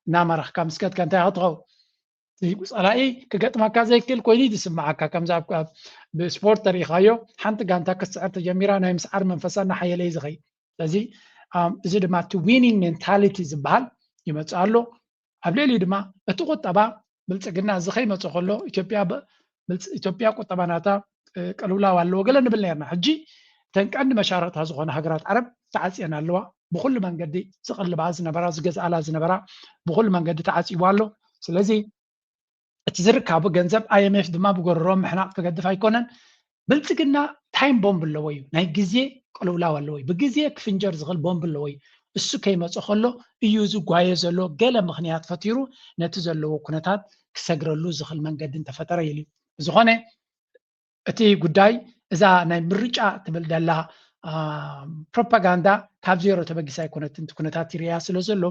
እናመራኽካ ምስ ከድካ እንታይ ክትኸውን ፀላኢ ክገጥመካ ዘይክእል ኮይኑ እዩ ዝስምዓካ ከምዚ ኣብ ብስፖርት ተሪኢኻዮ ሓንቲ ጋንታ ክትስዕር ተጀሚራ ናይ ምስዓር መንፈሳ እናሓየለ እዩ ዝኸይ ስለዚ እዚ ድማ እቲ ዊኒንግ ሜንታሊቲ ዝበሃል ይመፅእ ኣሎ ኣብ ልዕሊኡ ድማ እቲ ቁጠባ ብልፅግና እዚ ከይመፀ ከሎ ኢትዮጵያ ኢትዮጵያ ቁጠባ ናታ ቅልውላው ኣለዎ ገለ ንብል ነርና ሕጂ እተን ቀንዲ መሻርቕታ ዝኾነ ሃገራት ዓረብ ተዓጽየን ኣለዋ ብኩሉ መንገዲ ዝቕልባ ዝነበራ ዝገዝኣላ ዝነበራ ብኩሉ መንገዲ ተዓጺቡ ኣሎ ስለዚ እቲ ዝርካቡ ገንዘብ ኣይኤምኤፍ ድማ ብጎረሮ ምሕናቕ ክገድፍ ኣይኮነን ብልፅግና ታይም ቦምብ ኣለዎ እዩ ናይ ግዜ ቅልውላው ኣለዎ እዩ ብግዜ ክፍንጀር ዝኽእል ቦምብ ኣለዎ እዩ እሱ ከይመፀ ከሎ እዩ ዝጓየ ዘሎ ገለ ምክንያት ፈቲሩ ነቲ ዘለዎ ኩነታት ክሰግረሉ ዝኽል መንገዲ እንተፈጠረ ኢሉ እዩ። ብዝኾነ እቲ ጉዳይ እዛ ናይ ምርጫ ትብል ደላ ፕሮፓጋንዳ ካብ ዜሮ ተበጊሳ ኣይኮነትን እቲ ኩነታት ይርያ ስለ ዘሎ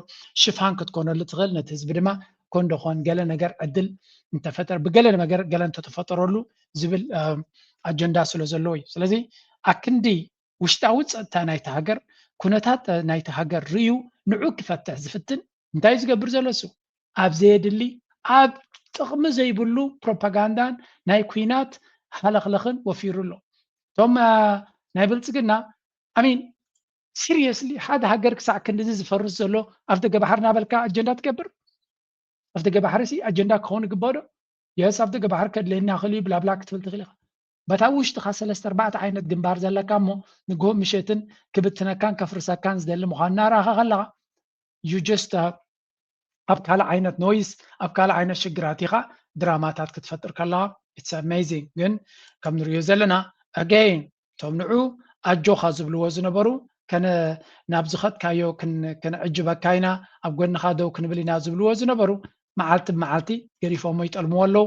ሽፋን ክትኮነሉ ትኽእል ነቲ ህዝቢ ድማ ኮን ዶኾን ገለ ነገር ዕድል እንተፈጠረ ብገለ ነገር ገለ እንተተፈጠረሉ ዝብል ኣጀንዳ ስለ ዘለዎ እዩ ስለዚ ኣክንዲ ውሽጣዊ ጸጥታ ናይታ ሃገር፣ ኩነታት ናይታ ሃገር ርእዩ ንዑ ክፈትሕ ዝፍትን እንታዩ ዝገብር ዘሎ እሱ? ኣብ ዘየድሊ ኣብ ጥቕሚ ዘይብሉ ፕሮፓጋንዳን ናይ ኩናት ሃለኽለኽን ወፊሩ ኣሎ። እቶም ናይ ብልጽግና ኣሚን ሲሪየስሊ ሓደ ሃገር ክሳዕ ክንድዚ ዝፈርስ ዘሎ ኣፍ ደገ ባሕሪ ናበልካ ኣጀንዳ ትገብር ኣፍ ደገ ባሕሪ ሲ ኣጀንዳ ክኸውን ይግበኦ ዶ የስ ኣፍ ደገ ባሕሪ ከድለየና ክእል እዩ ብላብላ ክትብል ትኽእል ኢኻ በቲ ኣብ ውሽጥኻ ሰለስተ ኣርባዕተ ዓይነት ግንባር ዘለካ እሞ ንግሆ ምሸትን ክብትነካን ከፍርሰካን ዝደሊ ምዃኑ እናረኣኻ ከለኻ you just uh, ኣብ ካልእ ዓይነት ኖይስ ኣብ ካልእ ዓይነት ሽግራት ኢኻ ድራማታት ክትፈጥር ከለኻ ኢትስ ኣሜዚንግ ግን ከም ንሪኦ ዘለና ኣገይን እቶም ንዑ ኣጆኻ ዝብልዎ ዝነበሩ ከነ ናብ ዝኸጥካዮ ክንዕጅበካ ኢና ኣብ ጎንኻ ደው ክንብል ኢና ዝብልዎ ዝነበሩ መዓልቲ ብመዓልቲ ገሪፎሞ ይጠልምዎ ኣለዉ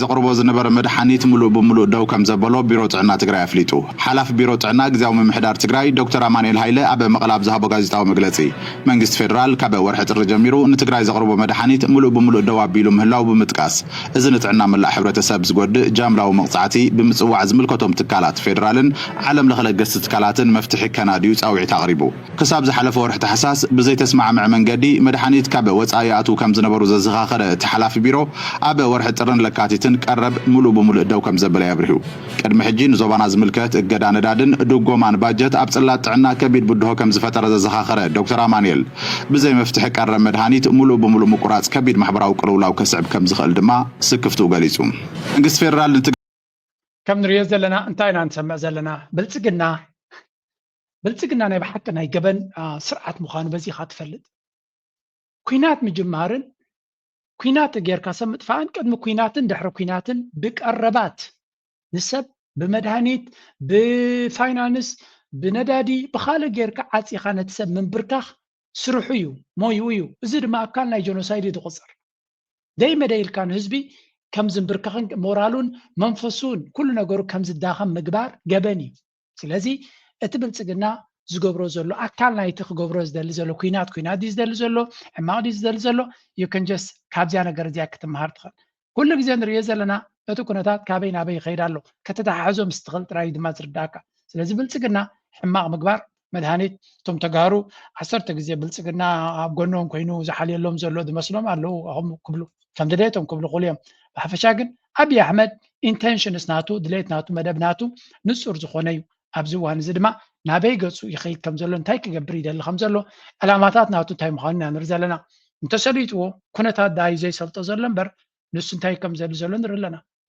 ዘቕርቦ ዝነበረ መድሓኒት ሙሉእ ብሙሉእ ደው ከምዘበሎ ቢሮ ጥዕና ትግራይ ኣፍሊጡ። ሓላፊ ቢሮ ጥዕና ግዝያዊ ምምሕዳር ትግራይ ዶክተር ኣማኑኤል ሃይለ ኣብ መቐለ ኣብ ዝሃቦ ጋዜጣዊ መግለፂ፣ መንግስቲ ፌደራል ካብ ወርሒ ጥሪ ጀሚሩ ንትግራይ ዘቕርቦ መድሓኒት ሙሉእ ብሙሉእ ደው ኣቢሉ ምህላው ብምጥቃስ እዚ ንጥዕና መላእ ሕብረተሰብ ዝጎድእ ጃምላዊ መቕፃዕቲ ብምፅዋዕ ዝምልከቶም ትካላት ፌደራልን ዓለምለኸ ለገስቲ ትካላትን መፍትሒ ከናድዩ ፃውዒት ኣቕሪቡ። ክሳብ ዝሓለፈ ወርሒ ታሕሳስ ብዘይተስማዕምዐ መንገዲ መድሓኒት ካብ ወፃኢ ይኣትዉ ከም ዝነበሩ ዘዘኻኸረ እቲ ሓላፊ ቢሮ፣ ኣብ ወርሒ ጥርን ለካቲትን ቀረብ ሙሉእ ብሙሉእ ደው ከም ዘበለ'ዩ ኣብሪሁ። ቅድሚ ሕጂ ንዞባና ዝምልከት እገዳ ነዳድን ድጎማን ባጀት ኣብ ፅላት ጥዕና ከቢድ ብድሆ ከም ዝፈጠረ ዘዘኻኸረ ዶክተር ኣማኒኤል፣ ብዘይ መፍትሒ ቀረብ መድሃኒት ሙሉእ ብሙሉእ ምቁራፅ ከቢድ ማሕበራዊ ቅልውላው ከስዕብ ከም ዝኽእል ድማ ስክፍትኡ ገሊፁ። መንግስቲ ፌደራል ንትግ። ከም ንሪኦ ዘለና እንታይ ኢና ንሰምዕ ዘለና ብልፅግና። ብልፅግና ናይ ብሓቂ ናይ ገበን ስርዓት ምዃኑ በዚኻ ትፈልጥ። ኩናት ምጅማርን ኩናት ጌርካ ሰብ ምጥፋእን ቅድሚ ኩናትን ድሕሪ ኩናትን ብቀረባት ንሰብ ብመድሃኒት ብፋይናንስ ብነዳዲ ብካልእ ጌርካ ዓፂኻ ነቲ ሰብ ምንብርካኽ ስርሑ እዩ ሞይኡ እዩ እዚ ድማ ኣካል ናይ ጀኖሳይድ እዩ ዝቑፅር ደይ መደይ ኢልካ ንህዝቢ ከም ዝንብርከኽን ሞራሉን መንፈሱን ኩሉ ነገሩ ከም ዝዳኸም ምግባር ገበን እዩ ስለዚ እቲ ብልፅግና ዝገብሮ ዘሎ ኣካል ናይቲ ክገብሮ ዝደሊ ዘሎ ኩናት ኩናት ድዩ ዝደሊ ዘሎ ሕማቕ ድዩ ዝደሊ ዘሎ ዩክንጀስ ካብዚያ ነገር እዚያ ክትምሃር ትኽእል ኩሉ ግዜ ንሪኦ ዘለና እቲ ኩነታት ካበይ ናበይ ይኸይድ ኣሎ ከተተሓሕዞ ምስ ትኽእል ጥራይ ድማ ዝርዳእካ ስለዚ ብልፅግና ሕማቕ ምግባር መድሃኒት እቶም ተጋሩ ዓሰርተ ግዜ ብልፅግና ኣብ ጎኖም ኮይኑ ዝሓልየሎም ዘሎ ዝመስሎም ኣለዉ ክብሉ ከም ድሌቶም ክብሉ ክሉ እዮም ብሓፈሻ ግን ኣቢይ ኣሕመድ ኢንተንሽንስ ናቱ ድሌት ናቱ መደብ ናቱ ንፁር ዝኾነ እዩ ኣብዚ እዋን እዚ ድማ ናበይ ገፁ ይኸይድ ከም ዘሎ እንታይ ክገብር ይደሊ ከም ዘሎ ዕላማታት ናቱ እንታይ ምዃኑ ኢና ንርኢ ዘለና እንተሰሊጥዎ ኩነታት ዳዩ ዘይሰልጦ ዘሎ እምበር ንሱ እንታይ ከም ዘድሊ ዘሎ ንርኢ ኣለና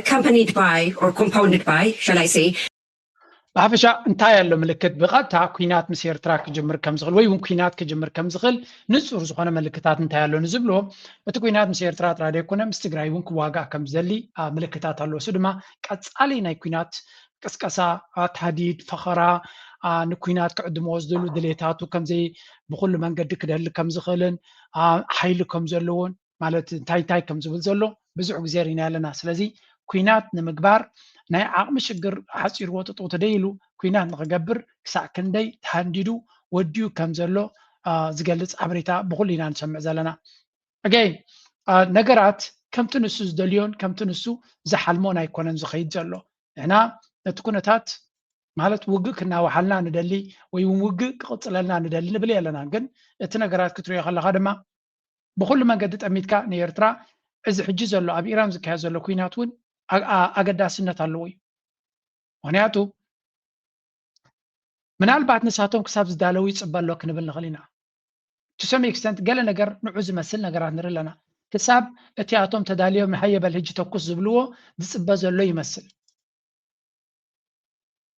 Accompanied by or compounded by, shall I say. ብሓፈሻ እንታይ ኣሎ ምልክት ብቐጥታ ኩናት ምስ ኤርትራ ክጅምር ከም ዝኽእል ወይ እውን ኩናት ክጅምር ከም ዝኽእል ንጹር ዝኾነ ምልክታት እንታይ ኣሎ ንዝብሎ እቲ ኩናት ምስ ኤርትራ ጥራይ ዘይኮነ ምስ ትግራይ እውን ክዋጋእ ከም ዝደሊ ምልክታት ኣሎ እሱ ድማ ቀጻሊ ናይ ኩናት ቅስቀሳ ታህዲድ ፈኸራ ንኩናት ክዕድምዎ ዝደሉ ድሌታቱ ከምዘይ ብኩሉ መንገዲ ክደሊ ከም ዝኽእልን ሓይሊ ከም ዘለዎን ማለት እንታይ እንታይ ከም ዝብል ዘሎ ብዙሕ ግዜ ርኢና ኣለና ስለዚ ኩናት ንምግባር ናይ ዓቕሚ ሽግር ሓፂርዎ ጥጥው ተደይ ኢሉ ኩናት ንክገብር ክሳዕ ክንደይ ተሃንዲዱ ወዲኡ ከም ዘሎ ዝገልፅ ሓበሬታ ብኩሉ ኢና ንሰምዕ ዘለና ኣገይን ነገራት ከምቲ ንሱ ዝደልዮን ከምቲ ንሱ ዝሓልሞን ኣይኮነን ዝኸይድ ዘሎ ንሕና ነቲ ኩነታት ማለት ውግእ ክናዋሓልና ንደሊ ወይ እውን ውግእ ክቕፅለልና ንደሊ ንብል ኣለና ግን እቲ ነገራት ክትሪኦ ከለካ ድማ ብኹሉ መንገዲ ጠሚትካ ንኤርትራ እዚ ሕጂ ዘሎ ኣብ ኢራን ዝካየድ ዘሎ ኩናት እውን ኣገዳስነት ኣለዎ እዩ ምክንያቱ ምናልባት ንሳቶም ክሳብ ዝዳለው ይፅበ ኣሎ ክንብል ንኽእል ኢና ቱ ሰም ኤክስተንት ገለ ነገር ንዑ ዝመስል ነገራት ንርኢ ኣለና ክሳብ እቲ ኣቶም ተዳልዮም ንሃየበል ህጂ ተኩስ ዝብልዎ ዝፅበ ዘሎ ይመስል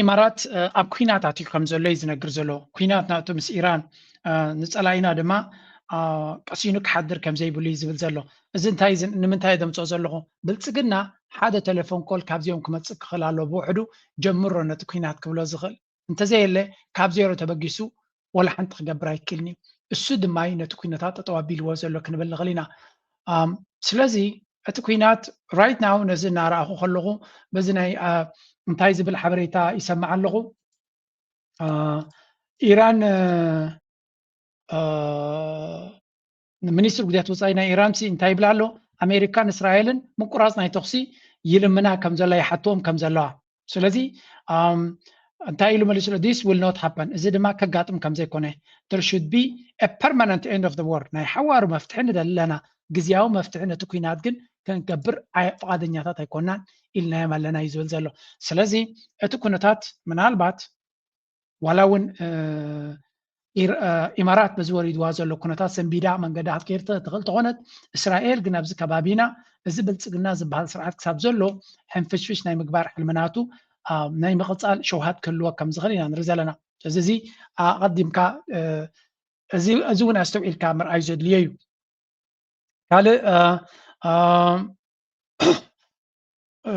ኢማራት ኣብ ኩናት ኣትዩ ከም ዘሎ እዩ ዝነግር ዘሎ ኩናት ናቱ ምስ ኢራን ንፀላኢና ድማ ቀሲኑ ክሓድር ከም ዘይብሉ እዩ ዝብል ዘሎ እዚ እንታይ ንምንታይ ዘምፅኦ ዘለኹ ብልፅግና ሓደ ቴሌፎን ኮል ካብዚኦም ክመፅእ ክኽእል ኣለዎ ብውሕዱ ጀምሮ ነቲ ኩናት ክብሎ ዝኽእል እንተዘየለ ካብ ዜሮ ተበጊሱ ዋላ ሓንቲ ክገብር ኣይክእልን እዩ። እሱ ድማ እዩ ነቲ ኩነታት ጠጠው ኣቢልዎ ዘሎ ክንብል ንኽእል ኢና። ስለዚ እቲ ኩናት ራይት ናው ነዚ እናረኣኹ ከለኹ በዚ ናይ እንታይ ዝብል ሓበሬታ ይሰማዕ ኣለኹ ኢራን ሚኒስትሪ ጉዳያት ወፃኢ ናይ ኢራንሲ እንታይ ይብል ኣሎ? ኣሜሪካን እስራኤልን ምቁራፅ ናይ ተኹሲ ይልምና ከም ዘላ ይሓትዎም ከም ዘለዋ ስለዚ እንታይ ኢሉ መሊሱ ዲስ ዊል ኖት ሃፐን እዚ ድማ ከጋጥም ከም ዘይኮነ ደር ሹድ ቢ ፐርማነንት ኤንድ ኦፍ ወር ናይ ሓዋሩ መፍትሒ ንደሊ ኣለና ግዜያዊ መፍትሒ ነቲ ኩናት ግን ክንገብር ፍቓደኛታት ኣይኮናን ኢልናዮም ኣለና እዩ ዝብል ዘሎ ስለዚ እቲ ኩነታት ምናልባት ዋላ እውን ኢማራት በዚ ወሪድዋ ዘሎ ኩነታት ሰንቢዳ መንገዳ ክትከይድ ትኽእል ተኾነት እስራኤል ግን ኣብዚ ከባቢና እዚ ብልፅግና ዝበሃል ስርዓት ክሳብ ዘሎ ሕንፍሽፍሽ ናይ ምግባር ሕልምናቱ ናይ ምቕፃል ሸውሃት ክህልዎ ከም ዝኽእል ኢና ንርኢ ዘለና ስለዚ እዚ ኣቐዲምካ እዚ እውን ኣስተውዒልካ ምርኣዩ ዘድልዮ እዩ ካልእ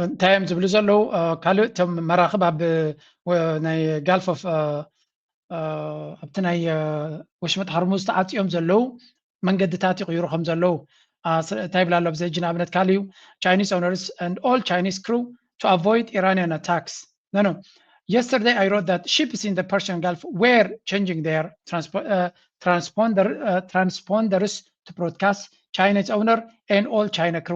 እንታይ እዮም ዝብሉ ዘለዉ ካልእ እቶም መራኽብ ኣብ ናይ ጋልፍ ኦፍ ኣብቲ ናይ ወሽመጥ ሃርሙዝ ተዓፅዮም ዘለዉ መንገድታት ይቕይሩ ከም ዘለዉ እንታይ ይብላ ኣሎ ብዘጂ ንኣብነት ካል እዩ ቻይኒስ ኦነርስ ን ኦል ቻይኒስ ክሩ ቱ ኣቮይድ ኢራንያን ኣታክስ ኖኖ የስተርደይ ኣይ ሮት ት ሺፕስ ን ፐርሽን ጋልፍ ዌር ቸንጂንግ ር ትራንስፖንደርስ ቱ ብሮድካስት ቻይኒስ ኦነር ን ኦል ቻይና ክሩ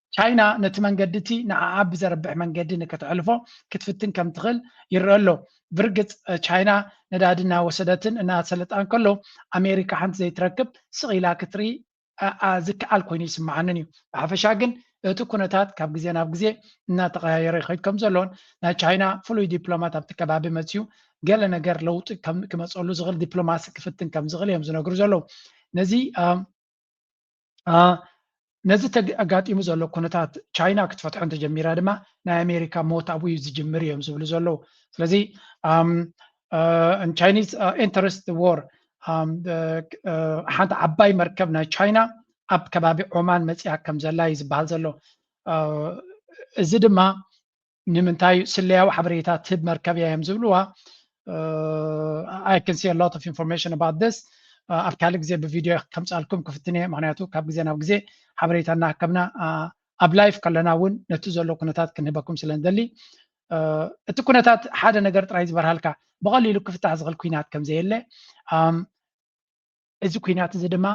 ቻይና ነቲ መንገዲ እቲ ንዓኣ ብዘርብሕ መንገዲ ንክተሕልፎ ክትፍትን ከም ትኽእል ይረኣ ኣሎ። ብርግጽ ቻይና ነዳዲ እናወሰደትን እናሰለጣን ከሎ ኣሜሪካ ሓንቲ ዘይትረክብ ስቕ ኢላ ክትርኢ ዝከኣል ኮይኑ ይስምዓንን እዩ። ብሓፈሻ ግን እቲ ኩነታት ካብ ግዜ ናብ ግዜ እናተቐያየረ ይኸይድ ከም ዘሎን ናይ ቻይና ፍሉይ ዲፕሎማት ኣብቲ ከባቢ መጺኡ ገለ ነገር ለውጢ ክመጸሉ ዝኽእል ዲፕሎማሲ ክፍትን ከም ዝኽእል እዮም ዝነግሩ ዘለዉ። ነዚ ነዚ ኣጋጢሙ ዘሎ ኩነታት ቻይና ክትፈትሖ እንተጀሚራ ድማ ናይ ኣሜሪካ ሞት ኣብኡ እዩ ዝጅምር እዮም ዝብሉ ዘለዉ ስለዚ ቻይኒዝ ኢንተረስት ዎር ሓንቲ ዓባይ መርከብ ናይ ቻይና ኣብ ከባቢ ዖማን መፅያ ከም ዘላ እዩ ዝበሃል ዘሎ እዚ ድማ ንምንታይ ስለያዊ ሓበሬታ ትህብ መርከብ እያ እዮም ዝብልዋ ኣይ ካን ሲ ሎት ኦፍ ኢንፎርሜሽን ኣባት ስ ኣብ ካልእ ግዜ ብቪድዮ ከምፃልኩም ክፍትን እየ ምክንያቱ ካብ ግዜ ናብ ግዜ ሓበሬታ እናሃከብና ኣብ ላይፍ ከለና እውን ነቲ ዘሎ ኩነታት ክንህበኩም ስለ ንደሊ እቲ ኩነታት ሓደ ነገር ጥራይ ዝበርሃልካ ብቐሊሉ ክፍታሕ ዝኽእል ኩናት ከም ዘየለ እዚ ኩናት እዚ ድማ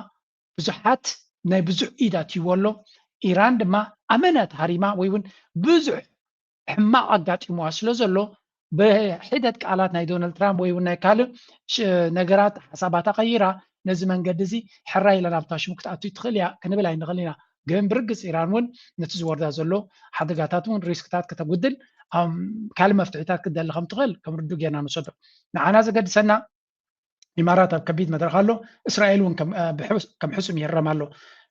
ብዙሓት ናይ ብዙሕ ኢድ ኣትይዎ ኣሎ፣ ኢራን ድማ ኣመና ተሃሪማ ወይ ውን ብዙሕ ሕማቕ ኣጋጢምዋ ስለ ዘሎ ብሒደት ቃላት ናይ ዶናልድ ትራምፕ ወይ ውን ናይ ካልእ ነገራት ሓሳባታ ቀይራ ነዚ መንገዲ እዚ ሕራይ ኢላ ናብታ ሽሙ ክትኣቱ ትኽእል እያ ክንብል ኣይንኽእልን ኢና ግን ብርግጽ ኢራን ውን ነቲ ዝወርዳ ዘሎ ሓደጋታት ውን ሪስክታት ከተጉድል ካልእ መፍትሒታት ክትደሊ ከም ትኽእል ከም ርዱእ ጌርና ንወሰዶ ንዓና ዘገድሰና ኢማራት ኣብ ከቢድ መድረኽ ኣሎ እስራኤል እውን ከም ሕሱም ይረም ኣሎ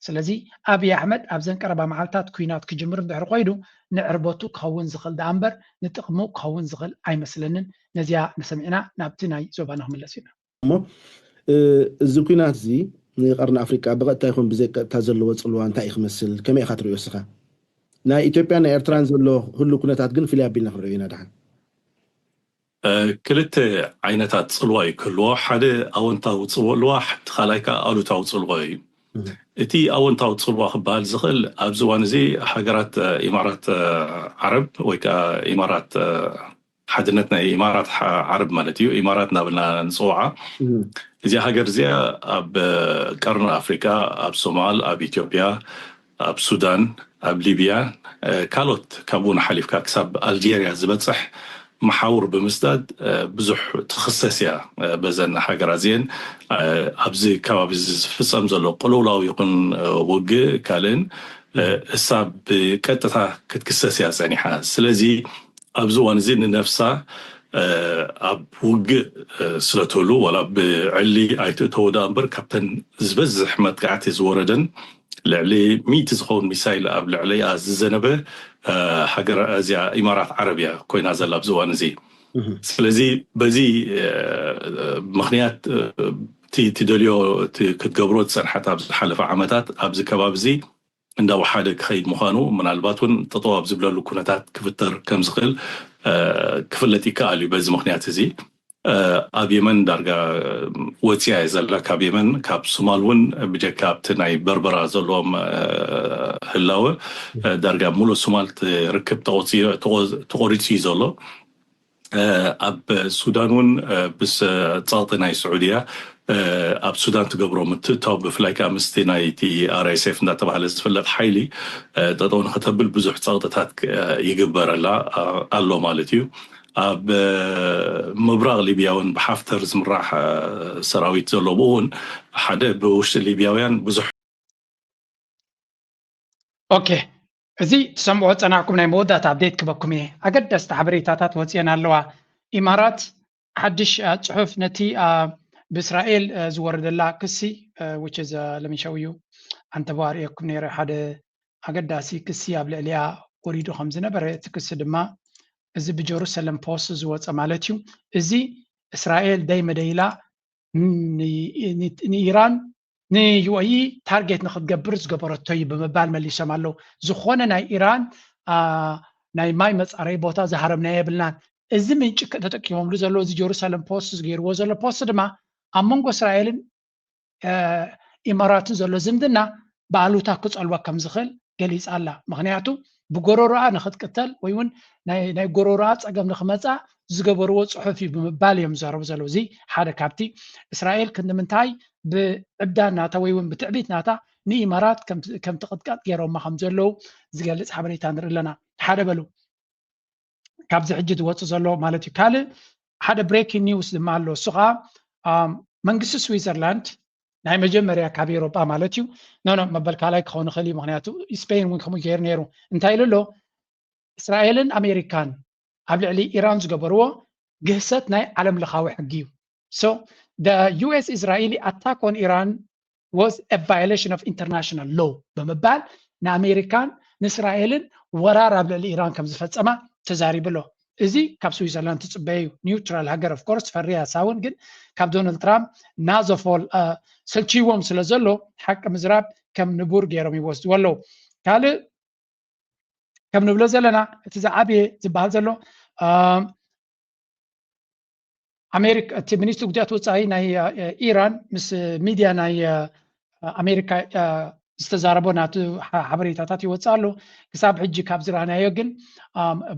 ስለዚ ኣብዪ ኣሕመድ ኣብዘን ቀረባ መዓልትታት ኩናት ክጅምር እንድሕር ኮይኑ ንዕርበቱ ክኸውን ዝኽእል ደኣ እምበር ንጥቕሙ ክኸውን ዝኽእል ኣይመስለንን ነዚያ ንሰሚዕና ናብቲ ናይ ዞባና ክምለስ ኢና እሞ እዚ ኩናት እዚ ንቀርኒ ኣፍሪቃ ብቐጥታ ይኹን ብዘይቀጥታ ዘለዎ ጽልዋ እንታይ እዩ ክመስል ከመይ ኢኻ ትሪኦ እስኻ ናይ ኢትዮጵያን ናይ ኤርትራን ዘሎ ህሉ ኩነታት ግን ፍልይ ኣቢልና ክንሪኦ ኢና ደሓን ክልተ ዓይነታት ጽልዋ እዩ ክህልዎ፣ ሓደ ኣወንታዊ ጽልዋ እቲ ካልኣይ ከኣ ኣሉታዊ ጽልዎ እዩ። እቲ ኣወንታዊ ጽልዋ ክበሃል ዝኽእል ኣብዚ እዋን እዚ ሃገራት ኢማራት ዓረብ ወይ ከኣ ኢማራት ሓድነት ናይ ኢማራት ዓረብ ማለት እዩ ኢማራት እናበልና ንጽውዓ እዚኣ ሃገር እዚኣ ኣብ ቀርኒ ኣፍሪቃ ኣብ ሶማል ኣብ ኢትዮጵያ ኣብ ሱዳን፣ ኣብ ሊብያን ካልኦት ካብኡውን ሓሊፍካ ክሳብ ኣልጀርያ ዝበጽሕ መሓውር ብምስዳድ ብዙሕ ትኽሰስ እያ። በዘን ሃገራት እዚኤን ኣብዚ ከባቢ እዚ ዝፍጸም ዘሎ ቅልውላው ይኹን ውግእ ካልእን እሳ ብቀጥታ ክትክሰስ እያ ጸኒሓ። ስለዚ ኣብዚ እዋን እዚ ንነፍሳ ኣብ ውግእ ስለትህሉ ዋላ ብዕሊ ኣይትእተዎ ደኣ እምበር ካብተን ዝበዝሕ መጥቃዕቲ ዝወረደን ልዕሊ ሚእቲ ዝኸውን ሚሳይል ኣብ ልዕሊኣ ዝዘነበ ሃገር እዚኣ ኢማራት ዓረብ እያ ኮይና ዘላ ኣብዚ እዋን እዚ። ስለዚ በዚ ምኽንያት እቲ ትደልዮ እቲ ክትገብሮ ዝጸንሐት ኣብ ዝሓለፈ ዓመታት ኣብዚ ከባቢ እዚ እንዳወሓደ ክኸይድ ምዃኑ ምናልባት እውን ጠጠው ኣብ ዝብለሉ ኩነታት ክፍጠር ከምዝኽእል ክፍለጥ ይከኣል እዩ። በዚ ምኽንያት እዚ ኣብ የመን ዳርጋ ወጺኣ እያ ዘላ ካብ የመን ካብ ሱማል ውን ብጀካ ኣብቲ ናይ በርበራ ዘለዎም ህላወ ዳርጋ ሙሉእ ሱማል ርክብ ተቖሪጹ እዩ ዘሎ ኣብ ሱዳን ውን ምስ ጸቕጢ ናይ ስዑድያ ኣብ ሱዳን ትገብሮ ምትእትታው ብፍላይ ከኣ ምስቲ ናይቲ RSF እንዳተባህለ ዝፍለጥ ሓይሊ ጠጠው ንኽተብል ብዙሕ ጸቕጥታት ይግበረላ ኣሎ ማለት እዩ ኣብ ምብራቕ ሊብያ እውን ብሓፍተር ዝምራሕ ሰራዊት ዘሎ ብኡ እውን ሓደ ብውሽጢ ሊብያውያን ብዙሕ ኦኬ እዚ ትሰምዑ ፀናዕኩም ናይ መወዳእታ ኣብዴት ክበኩም እየ ኣገዳስቲ ሓበሬታታት ወፅየን ኣለዋ ኢማራት ሓድሽ ፅሑፍ ነቲ ብእስራኤል ዝወረደላ ክሲ which is let me show you ኣንተቦ ኣርእየኩም ነይረ ሓደ ኣገዳሲ ክሲ ኣብ ልዕሊያ ወሪዱ ከም ዝነበረ እቲ ክሲ ድማ እዚ ብጀሩሰለም ፖስት ዝወጸ ማለት እዩ እዚ እስራኤል ደይ መደይ ኢላ ንኢራን ንዩኤኢ ታርጌት ንክትገብር ዝገበረቶ እዩ ብምባል መሊሶም ኣለዉ ዝኾነ ናይ ኢራን ናይ ማይ መፃረይ ቦታ ዝሃረምና የብልናን እዚ ምንጭ ተጠቂሞምሉ ዘለዎ እዚ ጀሩሳሌም ፖስት ዝገይርዎ ዘሎ ፖስት ድማ ኣብ መንጎ እስራኤልን ኢማራትን ዘሎ ዝምድና ብኣሉታ ክፀልዋ ከም ዝኽእል ገሊፃ ኣላ። ምኽንያቱ ብጎረሮኣ ንኽትቅተል ወይ እውን ናይ ጎረሮኣ ፀገም ንኽመፅኣ ዝገበርዎ ፅሑፍ እዩ ብምባል እዮም ዝዛረቡ ዘለዉ። እዚ ሓደ ካብቲ እስራኤል ክንዲ ምንታይ ብዕብዳን ናታ ወይ እውን ብትዕቢት ናታ ንኢማራት ከም ትቕጥቀጥ ገይሮማ ከም ዘለዉ ዝገልፅ ሓበሬታ ንርኢ ኣለና። ሓደ በሉ። ካብዚ ሕጂ ዝወፅእ ዘሎ ማለት እዩ ካልእ ሓደ ብሬኪን ኒውስ ድማ ኣሎ እሱ ከዓ መንግስቲ ስዊዘርላንድ ናይ መጀመርያ ካብ ኤሮጳ ማለት እዩ ኖኖ መበል ካልኣይ ክኸውን ይኽእል እዩ ምክንያቱ ስፔን እውን ከምኡ ገይሩ ነይሩ እንታይ ኢሉ ኣሎ እስራኤልን ኣሜሪካን ኣብ ልዕሊ ኢራን ዝገበርዎ ግህሰት ናይ ዓለም ለኻዊ ሕጊ እዩ ሶ ዩኤስ እስራኤሊ ኣታክ ኦን ኢራን was a violation of international law ብምባል ንኣሜሪካን ንእስራኤልን ወራር ኣብ ልዕሊ ኢራን ከም ዝፈጸማ ተዛሪቡ ኣሎ እዚ ካብ ስዊዘርላንድ ትጽበየ እዩ ኒውትራል ሃገር ኦፍ ኮርስ ፈርያ ሳውን ግን ካብ ዶናልድ ትራምፕ ናዞፎል ሰልቺዎም ስለ ዘሎ ሓቂ ምዝራብ ከም ንቡር ገይሮም ይወስድዎ ኣለዉ ካልእ ከም ንብሎ ዘለና እቲ ዝዓበየ ዝበሃል ዘሎ ኣሜሪካ እቲ ሚኒስትሪ ጉዳያት ወፃኢ ናይ ኢራን ምስ ሚድያ ናይ ኣሜሪካ ዝተዛረቦ ናቱ ሓበሬታታት ይወፅእ ኣሎ ክሳብ ሕጂ ካብ ዝረኣናዮ ግን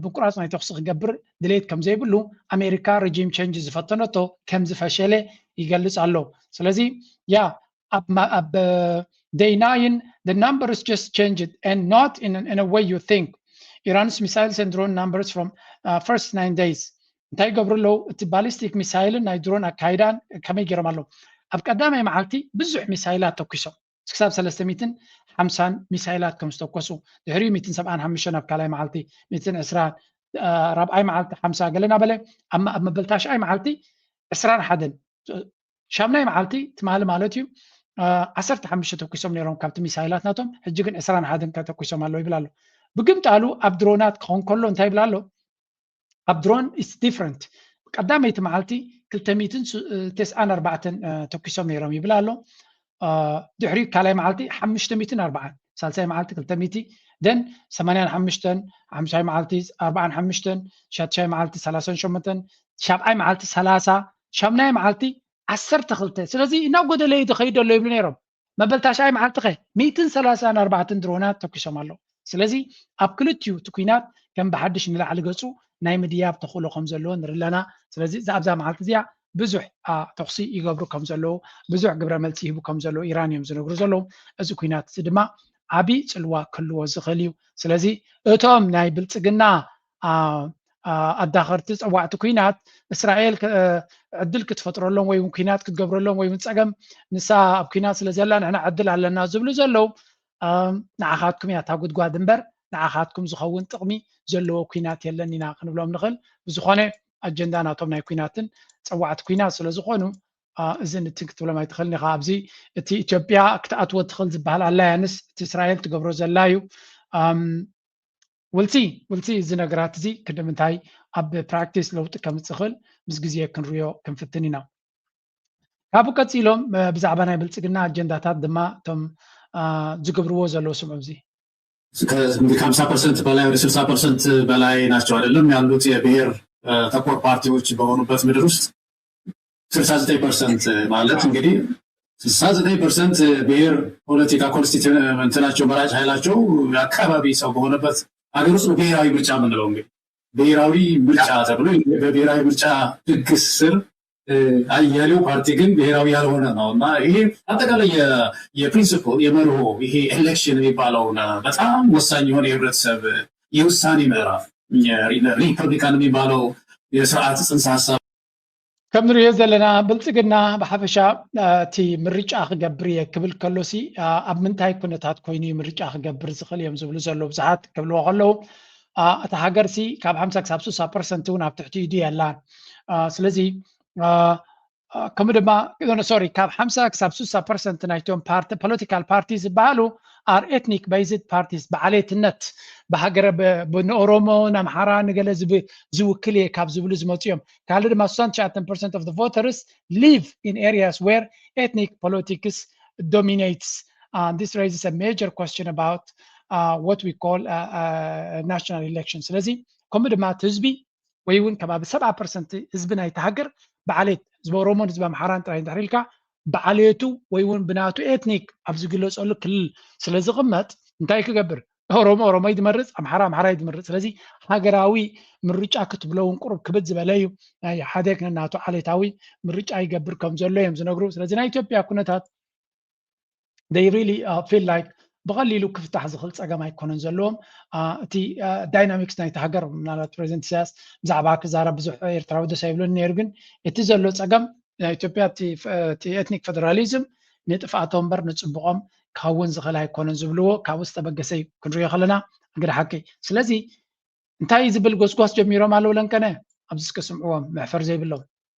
ብቁራፅ ናይ ተኽሲ ክገብር ድሌት ከም ዘይብሉ ኣሜሪካ ረጂም ቸንጅ ዝፈተነቶ ከም ዝፈሸለ ይገልፅ ኣሎ ስለዚ ያ ኣብ ኣብ day nine the numbers just changed and not in, in a way you think ኢራንስ ሚሳይልስ and drone numbers from uh, first nine days እንታይ ይገብሩ ኣለዉ እቲ ባሊስቲክ ሚሳይልን ናይ ድሮን ኣካይዳን ከመይ ገይሮም ኣለዉ ኣብ ቀዳማይ መዓልቲ ብዙሕ ሚሳይላት ተኪሶም ክሳብ 350 ሚሳይላት ከም ዝተኮሱ ድሕሪኡ 175 ኣብ ካልኣይ መዓልቲ 120 ራብዓይ መዓልቲ 50 ገለና በለ ኣብ መበልታሽኣይ መዓልቲ 21 ሻምናይ መዓልቲ ትማሊ ማለት እዩ ዓሰርተ ሓሙሽተ ተኩሶም ነይሮም ካብቲ ሚሳይላት ናቶም ሕጂ ግን ዕስራን ሓደን ከተኩሶም ኣለዉ ይብል ኣሎ ብግምጣሉ ኣብ ድሮናት ክኸውን ከሎ እንታይ ይብል ኣሎ ኣብ ድሮን ኢትስ ዲፍረንት ቀዳመይቲ መዓልቲ ክልተ ሚትን ተስዓን ኣርባዕተን ተኪሶም ነይሮም ይብል ኣሎ ድሕሪ ካልኣይ መዓልቲ ሓሙሽተ ሚእትን ኣርባዓን ሳልሳይ መዓልቲ ክልተ ሚእቲ ደን ሰማንያን ሓሙሽተን ሓምሻይ መዓልቲ ኣርባዓን ሓሙሽተን ሻትሻይ መዓልቲ ሰላሳን ሸሞንተን ሻብዓይ መዓልቲ ሰላሳ ሻምናይ መዓልቲ ዓሰርተ ክልተ ስለዚ እናጎደለ እዩ ዝኸይድ ኣሎ ይብሉ ነይሮም መበል ታሽዓይ መዓልቲ ኸ ሚእትን ሰላሳን ኣርባዕትን ድሮናት ተኪሶም ኣለዉ ስለዚ ኣብ ክልቲኡ እቲ ኩናት ከም ብሓድሽ ንላዕሊ ገጹ ናይ ምድያብ ተኽእሎ ከም ዘለዎ ንርኢ ኣለና። ስለዚ እዛ ኣብዛ መዓልቲ እዚኣ ብዙሕ ተኹሲ ይገብሩ ከም ዘለዉ፣ ብዙሕ ግብረ መልሲ ይህቡ ከም ዘለዉ ኢራን እዮም ዝነግሩ ዘለዉ። እዚ ኩናት እዚ ድማ ዓቢ ጽልዋ ክህልዎ ዝኽእል እዩ። ስለዚ እቶም ናይ ብልጽግና ኣዳኸርቲ ጸዋዕቲ ኩናት እስራኤል ዕድል ክትፈጥረሎም ወይ እውን ኩናት ክትገብረሎም ወይ እውን ጸገም ንሳ ኣብ ኩናት ስለ ዘላ ንሕና ዕድል ኣለና ዝብሉ ዘለዉ ንዓኻትኩም እያ እታ ጉድጓድ እምበር ንዓኻትኩም ዝኸውን ጥቕሚ ዘለዎ ኩናት የለን ኢና ክንብሎም ንኽእል። ብዝኾነ ኣጀንዳ ናቶም ናይ ኩናትን ፀዋዕቲ ኩናት ስለ ዝኾኑ እዚ ንቲ ክትብሎም ኣይትኽእልን ኢኻ ኣብዚ እቲ ኢትዮጵያ ክትኣትዎ ትኽእል ዝበሃል ኣላያንስ እቲ እስራኤል ትገብሮ ዘላ እዩ ውልሲ ውልሲ እዚ ነገራት እዚ ክንዲ ምንታይ ኣብ ፕራክቲስ ለውጢ ከምፅእ ኽእል ምስ ግዜ ክንሪኦ ክንፍትን ኢና ካብኡ ቀፂሎም ብዛዕባ ናይ ብልፅግና ኣጀንዳታት ድማ እቶም ዝገብርዎ ዘለዉ ስምዑ እዚ እንግዲህ ከሀምሳ ፐርሰንት በላይ ወደ ስልሳ ፐርሰንት በላይ ናቸው አይደለም ያሉት የብሔር ተኮር ፓርቲዎች በሆኑበት ምድር ውስጥ ስልሳ ዘጠኝ ፐርሰንት ማለት እንግዲህ ስልሳ ዘጠኝ ፐርሰንት ብሔር ፖለቲካ ኮንስቲቱ እንትናቸው መራጭ ኃይላቸው የአካባቢ ሰው በሆነበት ሀገር ውስጥ ነው ብሔራዊ ምርጫ የምንለው እንግዲህ ብሔራዊ ምርጫ ተብሎ በብሔራዊ ምርጫ ህግ ስር ያሌው ፓርቲ ግን ብሔራዊ ያልሆነ ነው እና ይሄ አጠቃላይ የፕሪንስፕል የመርሆ ይሄ ኤሌክሽን የሚባለውን በጣም ወሳኝ የሆነ የህብረተሰብ የውሳኔ ምዕራፍ ሪፐብሊካን የሚባለው የስርዓት ጽንሰ ሀሳብ ከም ንሪኦ ዘለና ብልፅግና ብሓፈሻ እቲ ምርጫ ክገብር እየ ክብል ከሎሲ ኣብ ምንታይ ኩነታት ኮይኑ ምርጫ ክገብር ዝኽእል እዮም ዝብሉ ዘለዉ ብዙሓት ክብልዎ ከለዉ እታ ሃገር ሲ ካብ ሓምሳ ክሳብ ስሳ ፐርሰንት እውን ኣብ ትሕቲ ኢዱ የላን ስለዚ ከምኡ ድማ ሶሪ ካብ ሓምሳ ክሳብ ስሳ ፐርሰንት ናይቶም ፖለቲካል ፓርቲ ዝበሃሉ ኣር ኤትኒክ በይዝድ ፓርቲስ ብዓሌትነት ብሃገረ ንኦሮሞ ንኣምሓራ ንገለ ዝውክል እየ ካብ ዝብሉ ዝመፁ እዮም ካልእ ድማ ስሳን ትሽዓተን ፐርሰንት ኦፍ ቮተርስ ሊቭ ኢን ኤሪያስ ዌር ኤትኒክ ፖለቲክስ ዶሚኔትስ and this raises a major question about uh, what we call a, a national election ስለዚ ከምኡ ድማ እቲ ህዝቢ ወይ እውን ከባቢ ሰብዓ ፐርሰንት ህዝቢ ናይቲ ሃገር ብዓሌት ህዝቢ ኦሮሞን ህዝቢ ኣምሓራን ጥራይ እንድሕር ኢልካ ብዓሌቱ ወይ እውን ብናቱ ኤትኒክ ኣብ ዝግለፀሉ ክልል ስለ ዝቕመጥ እንታይ ክገብር ኦሮሞ ኦሮሞይ ዝመርፅ ኣምሓራ ኣምሓራይ ዝመርፅ ስለዚ ሃገራዊ ምርጫ ክትብሎ እውን ቁሩብ ክብድ ዝበለ እዩ ናይ ሓደ ናቱ ዓሌታዊ ምርጫ ይገብር ከም ዘሎ እዮም ዝነግሩ ስለዚ ናይ ኢትዮጵያ ኩነታት they really feel like ብቐሊሉ ክፍታሕ ዝኽእል ፀገም ኣይኮነን ዘለዎም እቲ ዳይናሚክስ ናይቲ ሃገር ምናልባት ፕሬዚደንት ኢሳያስ ብዛዕባ ክዛረብ ብዙሕ ኤርትራዊ ደስ ኣይብለን ነይሩ ግን እቲ ዘሎ ፀገም ናይ ኢትዮጵያ እቲ ኤትኒክ ፌደራሊዝም ንጥፍኣቶም እምበር ንፅቡቖም ክኸውን ዝኽእል ኣይኮነን ዝብልዎ ካብኡ ዝተበገሰ እዩ ክንሪኦ ከለና እንግዲ ሓቂ ስለዚ እንታይ ዝብል ጎስጓስ ጀሚሮም ኣለዉ ለንቀነ ኣብዚ እስከ ስምዕዎም መሕፈር ዘይብሎም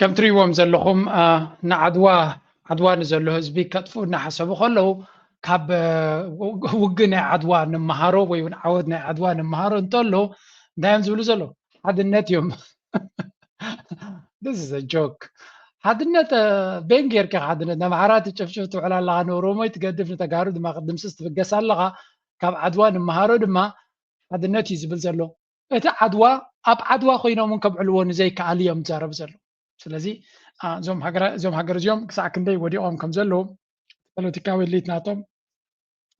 ከም ትሪእዎም ዘለኹም ንዓድዋ ዓድዋ ንዘሎ ህዝቢ ከጥፉ እናሓሰቡ ከለዉ ካብ ውግ ናይ ዓድዋ ንመሃሮ ወይ እውን ዓወት ናይ ዓድዋ ንመሃሮ እንተሎ እንታይ እዮም ዝብሉ ዘለዉ ሓድነት እዮም ስ ጆክ ሓድነት ቤን ጌርካ ሓድነት ንኣምሓራ ትጨፍጭፍ ትውዕል ኣለካ ንኦሮሞ ትገድፍ ንተጋሩ ድማ ክትድምስስ ትብገስ ኣለካ ካብ ዓድዋ ንመሃሮ ድማ ሓድነት እዩ ዝብል ዘሎ እቲ ዓድዋ ኣብ ዓድዋ ኮይኖም እውን ከብዕልዎ ንዘይከኣል እዮም ዝዛረቡ ዘለዉ ስለዚ እዞም ሃገር እዚኦም ክሳዕ ክንደይ ወዲቖም ከም ዘለዉ ፖለቲካዊ ሊት ናቶም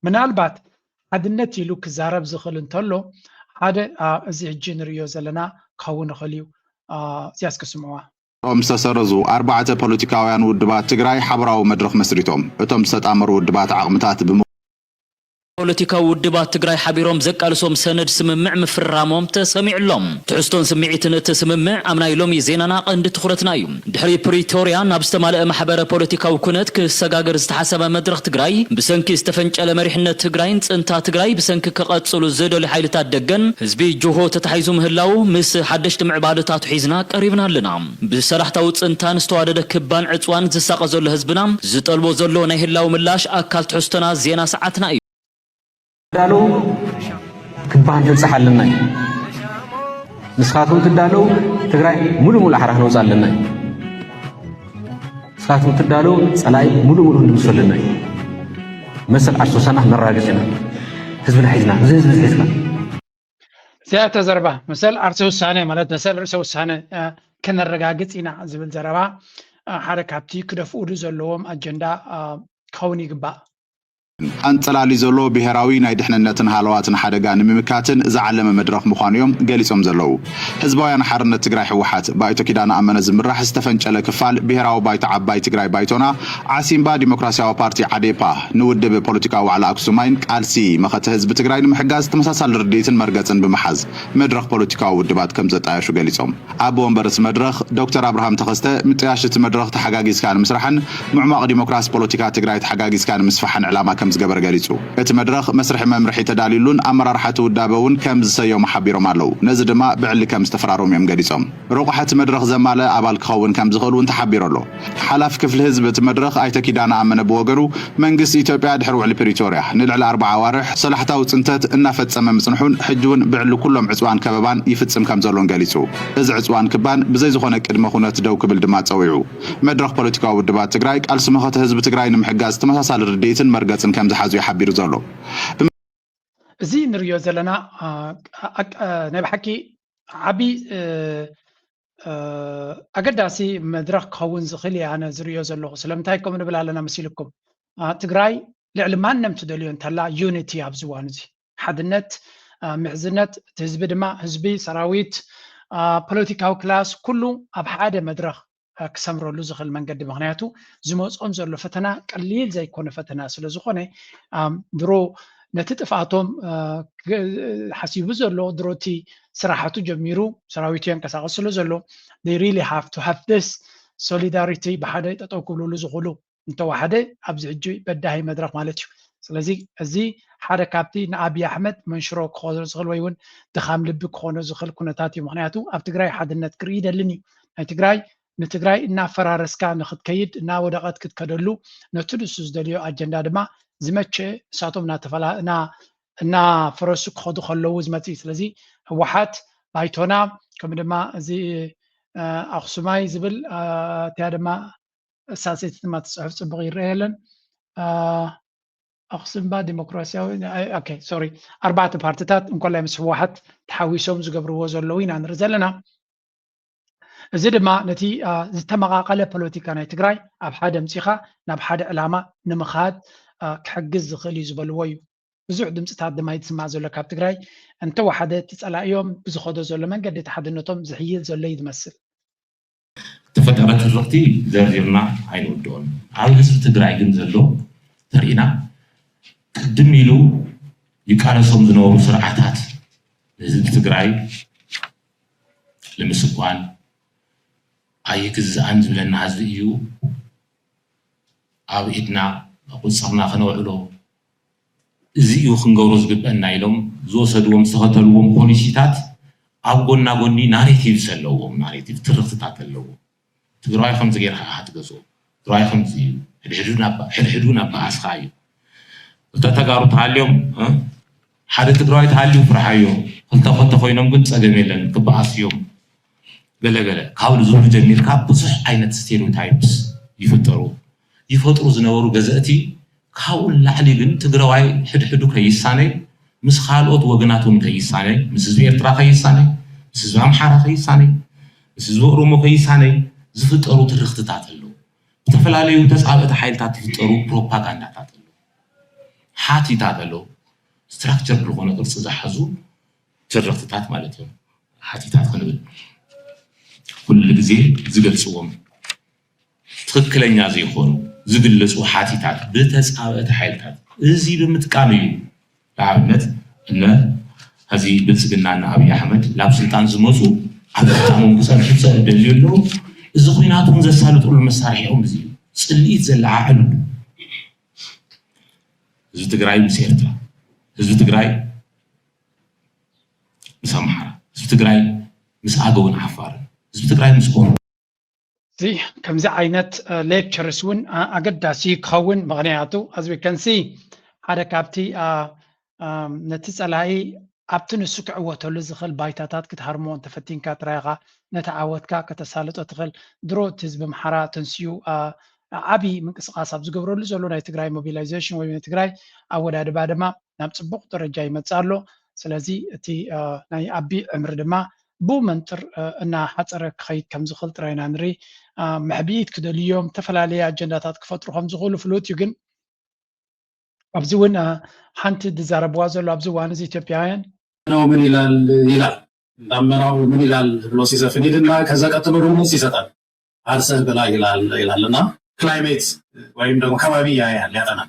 ምናልባት ሓድነት ኢሉ ክዛረብ ዝኽእል እንተሎ ሓደ እዚ ሕጂ ንርእዮ ዘለና ክኸውን ይኽእል እዩ እዚያ እስኪ ስምዕዋ እቶም ዝተሰረዙ ኣርባዕተ ፖለቲካውያን ውድባት ትግራይ ሓበራዊ መድረኽ መስሪቶም እቶም ዝተጣመሩ ውድባት ዓቕምታት ፖለቲካዊ ውድባት ትግራይ ሓቢሮም ዘቃልሶም ሰነድ ስምምዕ ምፍርራሞም ተሰሚዑ ኣሎ። ትሕዝቶን ስምዒትን እቲ ስምምዕ ኣብ ናይ ሎሚ ዜናና ቀንዲ ትኹረትና እዩ። ድሕሪ ፕሪቶርያ ናብ ዝተማለኣ ማሕበረ ፖለቲካዊ ኩነት ክሰጋገር ዝተሓሰበ መድረኽ ትግራይ ብሰንኪ ዝተፈንጨለ መሪሕነት ትግራይን ፅንታ ትግራይ ብሰንኪ ክቐፅሉ ዝደልዩ ሓይልታት ደገን ህዝቢ ጅሆ ተታሒዙ ምህላዉ ምስ ሓደሽቲ ምዕባለታቱ ሒዝና ቀሪብና ኣለና። ብሰላሕታዊ ፅንታን ዝተዋደደ ክባን ዕፅዋን ዝሳቐ ዘሎ ህዝብና ዝጠልቦ ዘሎ ናይ ህላወ ምላሽ ኣካል ትሕዝቶና ዜና ሰዓትና እዩ። ትዳለዉ ክባን ክንፀሓ ኣለና እዩ። ንስኻትኩም ትዳለዉ ትግራይ ሙሉእ ሙሉእ ሓራ ክንወፅኣ ኣለና እዩ። ንስኻትኩም ትዳለዉ ፀላኢ ሙሉእ ሙሉእ ክንድምሶ ኣለና እዩ። መሰል ኣርሶሳና ክነራግፅ ኢና ህዝብና ሒዝና እዚ ህዝቢ እዚ ሒዝካ እዚኣተ ዘረባ መሰል ዓርሰ ውሳነ ማለት መሰል ርእሰ ውሳነ ከነረጋግፅ ኢና ዝብል ዘረባ ሓደ ካብቲ ክደፍኡሉ ዘለዎም ኣጀንዳ ክኸውን ይግባእ። ኣንጸላሊ ዘሎ ብሔራዊ ናይ ድሕንነትን ሃለዋትን ሓደጋ ንምምካትን ዝዓለመ መድረኽ ምዃኑ እዮም ገሊጾም ዘለዉ። ህዝባውያን ሓርነት ትግራይ ህወሓት፣ ብኣይቶ ኪዳነ ኣመነ ዝምራሕ ዝተፈንጨለ ክፋል ብሔራዊ ባይቶ ዓባይ ትግራይ ባይቶና፣ ዓሲምባ ዲሞክራሲያዊ ፓርቲ፣ ዓዴፓ፣ ንውድብ ፖለቲካዊ ዋዕላ ኣክሱማይን ቃልሲ መኸተ ህዝቢ ትግራይ ንምሕጋዝ ተመሳሳሊ ርድኢትን መርገፅን ብምሓዝ መድረኽ ፖለቲካዊ ውድባት ከምዘጣየሹ ገሊፆም። ኣቦ ወንበር እቲ መድረኽ ዶክተር ኣብርሃም ተኸስተ ምጥያሽ እቲ መድረኽ ተሓጋጊዝካ ንምስራሕን ምዕሟቕ ዲሞክራሲ ፖለቲካ ትግራይ ተሓጋጊዝካ ንምስፋሕን ዕላማ ከምዝገበረ ገሊፁ። እቲ መድረኽ መስርሒ መምርሒ ተዳልዩሉን ኣመራርሓ እቲ ውዳበ እውን ከምዝሰየሙ ሓቢሮም ኣለው። ነዚ ድማ ብዕሊ ከምዝተፈራረሙ እዮም ገሊፆም። ረቋሒ እቲ መድረኽ ዘማልእ ኣባል ክኸውን ከምዝኽእል እውን ተሓቢሩ ኣሎ። ሓላፊ ክፍሊ ህዝቢ እቲ መድረኽ ኣይተ ኪዳነ ኣመነ ብወገኑ፣ መንግስቲ ኢትዮጵያ ድሕሪ ውዕሊ ፕሪቶርያ ንልዕሊ ኣርብዓ ኣዋርሕ ሰላሕታዊ ፅንተት እናፈፀመ ምፅንሑን ሕጂ እውን ብዕሊ ኩሎም ዕፅዋን ከበባን ይፍፅም ከምዘሎን ገሊፁ። እዚ ዕፅዋን ክባን ብዘይ ዝኾነ ቅድመ ኩነት ደው ክብል ድማ ፀዊዑ። መድረኽ ፖለቲካዊ ውድባት ትግራይ ቃልሲ መኸተ ህዝቢ ትግራይ ንምሕጋዝ ተመሳሳሊ ርድኢትን መርገፅን ከምዝሓዙ እዩ ሓቢሩ ዘሎ። እዚ ንርእዮ ዘለና ናይ ብሓቂ ዓቢ ኣገዳሲ መድረኽ ክኸውን ዝኽእል እየ ኣነ ዝርእዮ ዘለኹ ስለምንታይ ከምኡ ንብል ኣለና መሲልኩም ትግራይ ልዕሊ ማንም ትደልዮ እንተላ ዩኒቲ ኣብዚ እዋን እዚ ሓድነት ምሕዝነት እቲ ህዝቢ ድማ ህዝቢ ሰራዊት ፖለቲካዊ ክላስ ኩሉ ኣብ ሓደ መድረኽ ክሰምረሉ ዝኽእል መንገዲ ምክንያቱ ዝመፆም ዘሎ ፈተና ቀሊል ዘይኮነ ፈተና ስለ ዝኾነ ድሮ ነቲ ጥፍኣቶም ሓሲቡ ዘሎ ድሮ እቲ ስራሓቱ ጀሚሩ ሰራዊቱ የንቀሳቅስ ስለ ዘሎ they really have to have this solidarity ብሓደ ጠጠው ክብልሉ ዝኽእሉ እንተወሓደ ኣብዚ ሕጂ በዳሂ መድረኽ ማለት እዩ ስለዚ እዚ ሓደ ካብቲ ንኣብዪ ኣሕመድ መንሽሮ ክኾኖ ዝኽእል ወይ እውን ድኻም ልቢ ክኾኖ ዝኽእል ኩነታት እዩ ምክንያቱ ኣብ ትግራይ ሓድነት ክርኢ ይደልን እዩ ናይ ትግራይ ንትግራይ እናፈራረስካ ንክትከይድ እናወደቐት ክትከደሉ ነቲ ንሱ ዝደልዮ ኣጀንዳ ድማ ዝመቸ ንሳቶም እናፈረሱ ክኸዱ ከለዉ ዝመፅእ እዩ። ስለዚ ህወሓት ባይቶና ከምኡ ድማ እዚ ኣኽሱማይ ዝብል እቲያ ድማ እሳሰይቲ ድማ ትፅሑፍ ፅቡቕ ይረአ የለን ኣኽሱምባ ዲሞክራሲያዊ ኦኬ ሶሪ ኣርባዕተ ፓርትታት እንኮላይ ምስ ህወሓት ተሓዊሶም ዝገብርዎ ዘለዉ ኢና ንርኢ ዘለና እዚ ድማ ነቲ ዝተመቓቐለ ፖለቲካ ናይ ትግራይ ኣብ ሓደ ኣምፂኻ ናብ ሓደ ዕላማ ንምኻድ ክሕግዝ ዝኽእል እዩ ዝበልዎ እዩ። ብዙሕ ድምፅታት ድማ ይስማዕ ዘሎ ካብ ትግራይ እንተወሓደ እቲ ፀላኢኦም ብዝኸዶ ዘሎ መንገዲ እቲ ሓድነቶም ዝሕይል ዘሎ እዩ ዝመስል። ዝተፈጠረ ትርኽቲ ዘርዚርና ኣይንውድኦን። ኣብ ህዝቢ ትግራይ ግን ዘሎ እንተሪኢና ቅድም ኢሉ ይቃለሶም ዝነበሩ ስርዓታት ንህዝቢ ትግራይ ንምስጓን ኣይግዛእን ዝብለና ህዝቢ እዩ ኣብ ኢድና ቁፅርና ክነውዕሎ እዚ እዩ ክንገብሮ ዝግበአና ኢሎም ዝወሰድዎም ዝተኸተልዎም ፖሊሲታት ኣብ ጎና ጎኒ ናሬቲቭስ ኣለዎም ናሬቲቭ ትርኽትታት ኣለዎም ትግራዋይ ከምዚ ጌርካ ኢኻ ትገዝኦ ትግራዋይ ከምዚ እዩ ሕድሕዱ ናብ በኣስኻ እዩ እታ ተጋሩ ተሃልዮም ሓደ ትግራዋይ ተሃልዩ ፍርሓዮ ክልተ ክልተ ኮይኖም ግን ፀገም የለን ክበኣሱ እዮም ገለገለ ካብ ዝብሉ ጀሚርካ ብዙሕ ዓይነት ስቴሪዮታይፕስ ይፍጠሩ ይፈጥሩ ዝነበሩ ገዘእቲ ካብኡ ንላዕሊ ግን ትግራዋይ ሕድሕዱ ከይሳነይ ምስ ካልኦት ወገናት እውን ከይሳነይ ምስ ህዝቢ ኤርትራ ከይሳነይ ምስ ህዝቢ ኣምሓራ ከይሳነይ ምስ ህዝቢ ኦሮሞ ከይሳነይ ዝፍጠሩ ትርኽትታት ኣለዉ ብተፈላለዩ ተፃብእቲ ሓይልታት ዝፍጠሩ ፕሮፓጋንዳታት ኣለዉ ሓቲታት ኣለዉ ስትራክቸር ዝኾነ ቅርፂ ዝሓዙ ትርኽትታት ማለት እዮም ሓቲታት ክንብል ኩሉ ግዜ ዝገልፅዎም ትኽክለኛ ዘይኮኑ ዝግለፁ ሓቲታት ብተፃበእቲ ሓይልታት እዚ ብምጥቃም እዩ። ንኣብነት እነ ሐዚ ብልፅግና እነ ኣብይ ኣሕመድ ናብ ስልጣን ዝመፁ ኣብ ስልጣኖም ክፀንሑ ዝደልዩ ኣለው። እዚ ኹናት እውን ዘሳልጥሉ መሳርሒኦም እዚ እዩ። ፅልኢት ዘለዓዕልሉ ህዝቢ ትግራይ ምስ ኤርትራ፣ ህዝቢ ትግራይ ምስ ኣምሓራ፣ ህዝቢ ትግራይ ምስ ኣገውን ዓፋርን፣ ህዝቢ ትግራይ ምስ ኦሮሞ እዚ ከምዚ ዓይነት ሌክቸርስ እውን ኣገዳሲ ክኸውን ምክንያቱ ኣዝ ዊ ከን ሲ ሓደ ካብቲ ነቲ ፀላኢ ኣብቲ ንሱ ክዕወተሉ ዝኽእል ባይታታት ክትሃርሞ እንተፈቲንካ ጥራይ ኢኻ ነቲ ዓወትካ ከተሳልጦ ትኽእል ድሮ እቲ ህዝቢ ኣምሓራ ተንስኡ ዓብዪ ምንቅስቃስ ኣብ ዝገብረሉ ዘሎ ናይ ትግራይ ሞቢላይዜሽን ወይ ናይ ትግራይ ኣወዳድባ ድማ ናብ ፅቡቕ ደረጃ ይመፅእ ኣሎ። ስለዚ እቲ ናይ ኣቢ ዕምሪ ድማ ብኡ መንፅር እናሓፀረ ክኸይድ ከምዝኽእል ጥራይ ኢና ንርኢ። መሕብኢት ክደልዩ እዮም፣ ዝተፈላለየ ኣጀንዳታት ክፈጥሩ ከምዝኽእሉ ፍሉጥ እዩ። ግን ኣብዚ እውን ሓንቲ ዝዛረብዋ ዘሎ ኣብዚ እዋን እዚ ኢትዮጵያውያን። ዳመናው ምን ይላል ይላል ዳመናው ምን ይላል ብሎ ሲዘፍን ይልና ከዛ ቀጥሎ ደሞ ሲሰጠን ዓርሰህ ብላ ይላል ይላል እና ክላይሜት ወይም ደሞ ከባቢ ያያል ያጠናል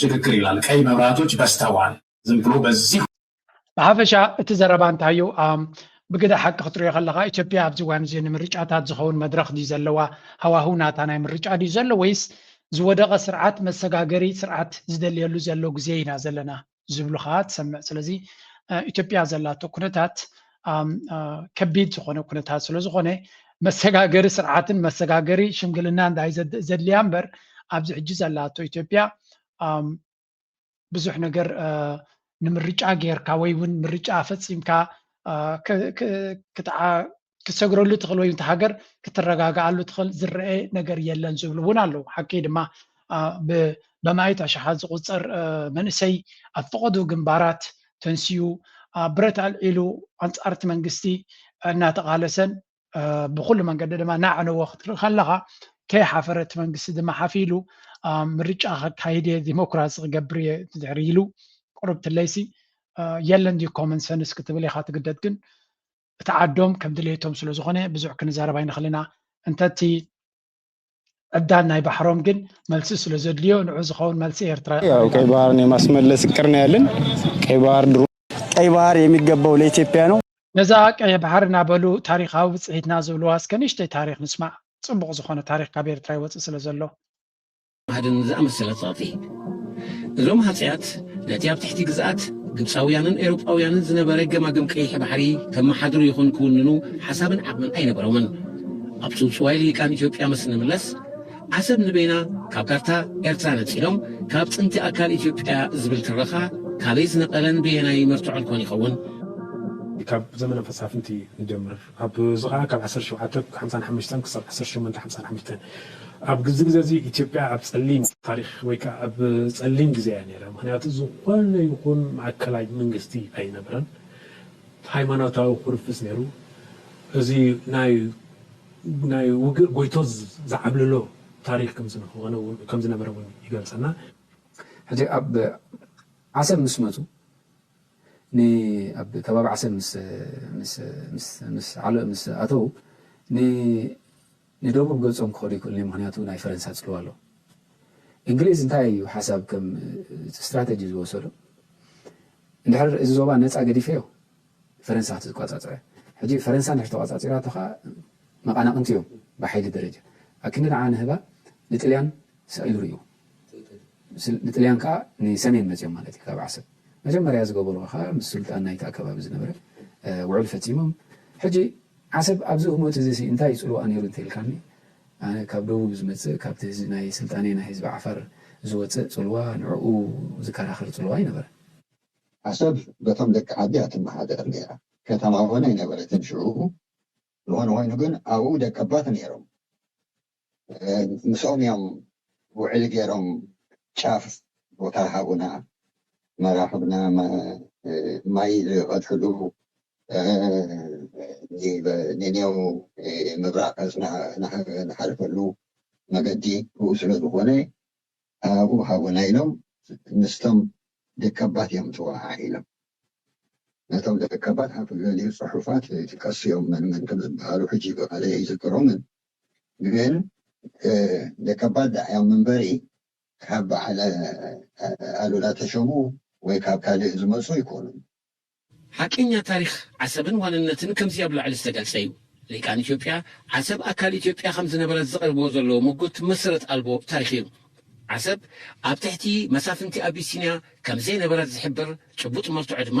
ሽግግር ይላል ቀይ መብራቶች በዝተዋል ዝም ብሎ በዚህ። ብሓፈሻ እቲ ዘረባ እንታይ እዩ? ብግደ ሓቂ ክትሪኦ ከለኻ ኢትዮጵያ ኣብዚ እዋን እዚ ንምርጫታት ዝኸውን መድረኽ ድዩ ዘለዋ? ሃዋህው ናታ ናይ ምርጫ ድዩ ዘሎ ወይስ ዝወደቐ ስርዓት መሰጋገሪ ስርዓት ዝደልየሉ ዘሎ ግዜ ኢና ዘለና ዝብሉ ከኣ ትሰምዕ። ስለዚ ኢትዮጵያ ዘላቶ ኩነታት ከቢድ ዝኾነ ኩነታት ስለ ዝኾነ መሰጋገሪ ስርዓትን መሰጋገሪ ሽምግልናን ዳይ ዘድልያ እምበር ኣብዚ ሕጂ ዘላቶ ኢትዮጵያ ብዙሕ ነገር ንምርጫ ጌርካ ወይ እውን ምርጫ ፈፂምካ ክትሰግረሉ ትኽእል ወይ እንቲ ሃገር ክትረጋግኣሉ ትኽእል ዝረአ ነገር የለን ዝብሉ እውን ኣለዉ ሓቂ ድማ በማይት ኣሽሓት ዝቑጸር መንእሰይ ኣብ ፈቐዶ ግንባራት ተንሲኡ ብረት ኣልዒሉ ኣንጻር እቲ መንግስቲ እናተቓለሰን ብኩሉ መንገዲ ድማ እናዕነወ ክትርኢ ከለኻ ከይሓፈረ እቲ መንግስቲ ድማ ሓፍ ኢሉ ምርጫ ከካይድ እየ ዲሞክራሲ ክገብር እየ ድሕሪ ኢሉ ቅሩብ ትለይሲ የለን ድዩ ኮመን ሰንስ ክትብል ኢኻ ትግደድ ግን እቲ ዓዶም ከም ድሌቶም ስለ ዝኾነ ብዙሕ ክንዛረብ ኣይንኽእል ኢና እንተቲ ዕብዳን ናይ ባሕሮም ግን መልሲ ስለ ዘድልዮ ንዑ ዝኸውን መልሲ ኤርትራ ያው ቀይ ባህርን የማስመለስ እቅር ነው ያለን። ቀይ ባህር ድሮ ቀይ ባህር የሚገባው ለኢትዮጵያ ነው። ነዛ ቀይሕ ባሕሪ እናበሉ ታሪኻዊ ብፅሒትና ዝብልዋ እስከ ንእሽተይ ታሪኽ ንስማዕ። ፅቡቕ ዝኾነ ታሪኽ ካብ ኤርትራ ይወፅእ ስለ ዘሎ። ሃድን ዝኣመሰለ ጸቕጢ። እዞም ሃጸያት ነቲ ኣብ ትሕቲ ግዝኣት ግብጻውያንን ኤውሮጳውያንን ዝነበረ ገማግም ቀይሕ ባሕሪ ከመሓድሩ ይኹን ክውንኑ ሓሳብን ዓቕምን ኣይነበሮምን። ኣብ ጽውጽዋይ ልሂቃን ኢትዮጵያ ምስ እንምለስ፣ ዓሰብ ንበይና ካብ ካርታ ኤርትራ ነጺሎም ካብ ጥንቲ ኣካል ኢትዮጵያ'ያ ዝብል ትረኻ ካበይ ዝነቐለን በየናይ መርትዖን ኮን ይኸውን? ካብ ዘመነ መሳፍንቲ ንጀምር። ኣብ እዚ ከኣ ካብ ዓሰርተ ሸውዓተ ሓምሳን ሓሙሽተን ክሳብ ዓሰርተ ሸሞንተ ሓምሳን ሓሙሽተን ኣብ ግዚ ግዜ እዚ ኢትዮጵያ ኣብ ጸሊም ታሪኽ ወይ ከኣ ኣብ ጸሊም ግዜ እያ ነይራ ምኽንያቱ ዝኾነ ይኹን ማእከላይ መንግስቲ ኣይነበረን ሃይማኖታዊ ኩርፍስ ነይሩ እዚ ናይ ናይ ውግእ ጎይቶ ዝዓብልሎ ታሪኽ ከም ዝንኾነ ውን ከም ዝነበረ ውን ይገልጸና። ሕጂ ኣብ ዓሰብ ምስ መጹ ንኣብ ከባቢ ዓሰብ ምስ ምስ ምስ ምስ ዓለ ምስ ኣተዉ ን ንደቡብ ገጾም ክኸዱ ኣይክእሉን እዮም ምኽንያቱ ናይ ፈረንሳ ጽልዋ ኣሎ። እንግሊዝ እንታይ እዩ ሓሳብ ከም ስትራተጂ ዝወሰዶ እንድሕር እዚ ዞባ ነጻ ገዲፈዮ ፈረንሳ ክትቋጻጸሮ እያ። ሕጂ ፈረንሳ እንድሕር ተቋጻጺራቶ ከኣ መቓናቕንቲ እዮም ብሓይሊ ደረጃ ኣክንዲ ንዓ ንህባ ንጥልያን ሰቂሉ ርእይዎ። ንጥልያን ከኣ ንሰሜን መጺኦም ማለት እዩ ካብ ዓሰብ መጀመርያ ዝገበርዎ ከኣ ምስ ሱልጣን ናይቲ ኣከባቢ ዝነበረ ውዕል ፈጺሞም ሕጂ ዓሰብ ኣብዚ ህሞት እዚሲ እንታይ ጽልዋኣ ኔሩ እንተኢልካኒ ኣነ ካብ ደቡብ ዝመጽእ ካብቲ ናይ ስልጣኔ ናይ ህዝቢ ዓፋር ዝወጽእ ጽልዋ ንዕኡ ዝከራኸር ጽልዋ ኣይነበረን። ዓሰብ በቶም ደቂ ዓዲ እያ ትመሓደር ኔራ ከተማ ውን ኣይነበረትን ሽዑ ዝኾነ ኾይኑ ግን ኣብኡ ደቀባት ኔሮም ምስኦም እዮም ውዕሊ ገይሮም ጫፍ ቦታ ሃቡና መራኽብና ማይ ዝቀድሕሉ ኔኔው ምብራቅ ዝሓልፈሉ መገዲ ብኡ ስለ ዝኾነ ኣብኡ ሃቡና ኢሎም ምስቶም ደቀባት እዮም ተወሃሂዶም ነቶም ደቀባት ኣብ ልዕሊኡ ጽሑፋት ይጥቀሱ እዮም መን መን ከም ዝበሃሉ ሕጂ ብቃለይ ኣይዝክሮምን ግን ደቀባት ደኣ እዮም እምበሪ ካብ በዓል ኣሉላ ተሾሙ ወይ ካብ ካልእ ዝመጹ ኣይኮኑን። ሓቀኛ ታሪኽ ዓሰብን ዋንነትን ከምዚ ኣብ ላዕሊ ዝተገልጸ እዩ። ሊቃን ኢትዮጵያ ዓሰብ ኣካል ኢትዮጵያ ከም ዝነበረት ዘቕርብዎ ዘለዉ ምጉት መሰረት ኣልቦ ታሪኽ እዩ። ዓሰብ ኣብ ትሕቲ መሳፍንቲ ኣቢሲንያ ከም ዘይነበረት ዝሕብር ጭቡጥ መርትዖ ድማ፣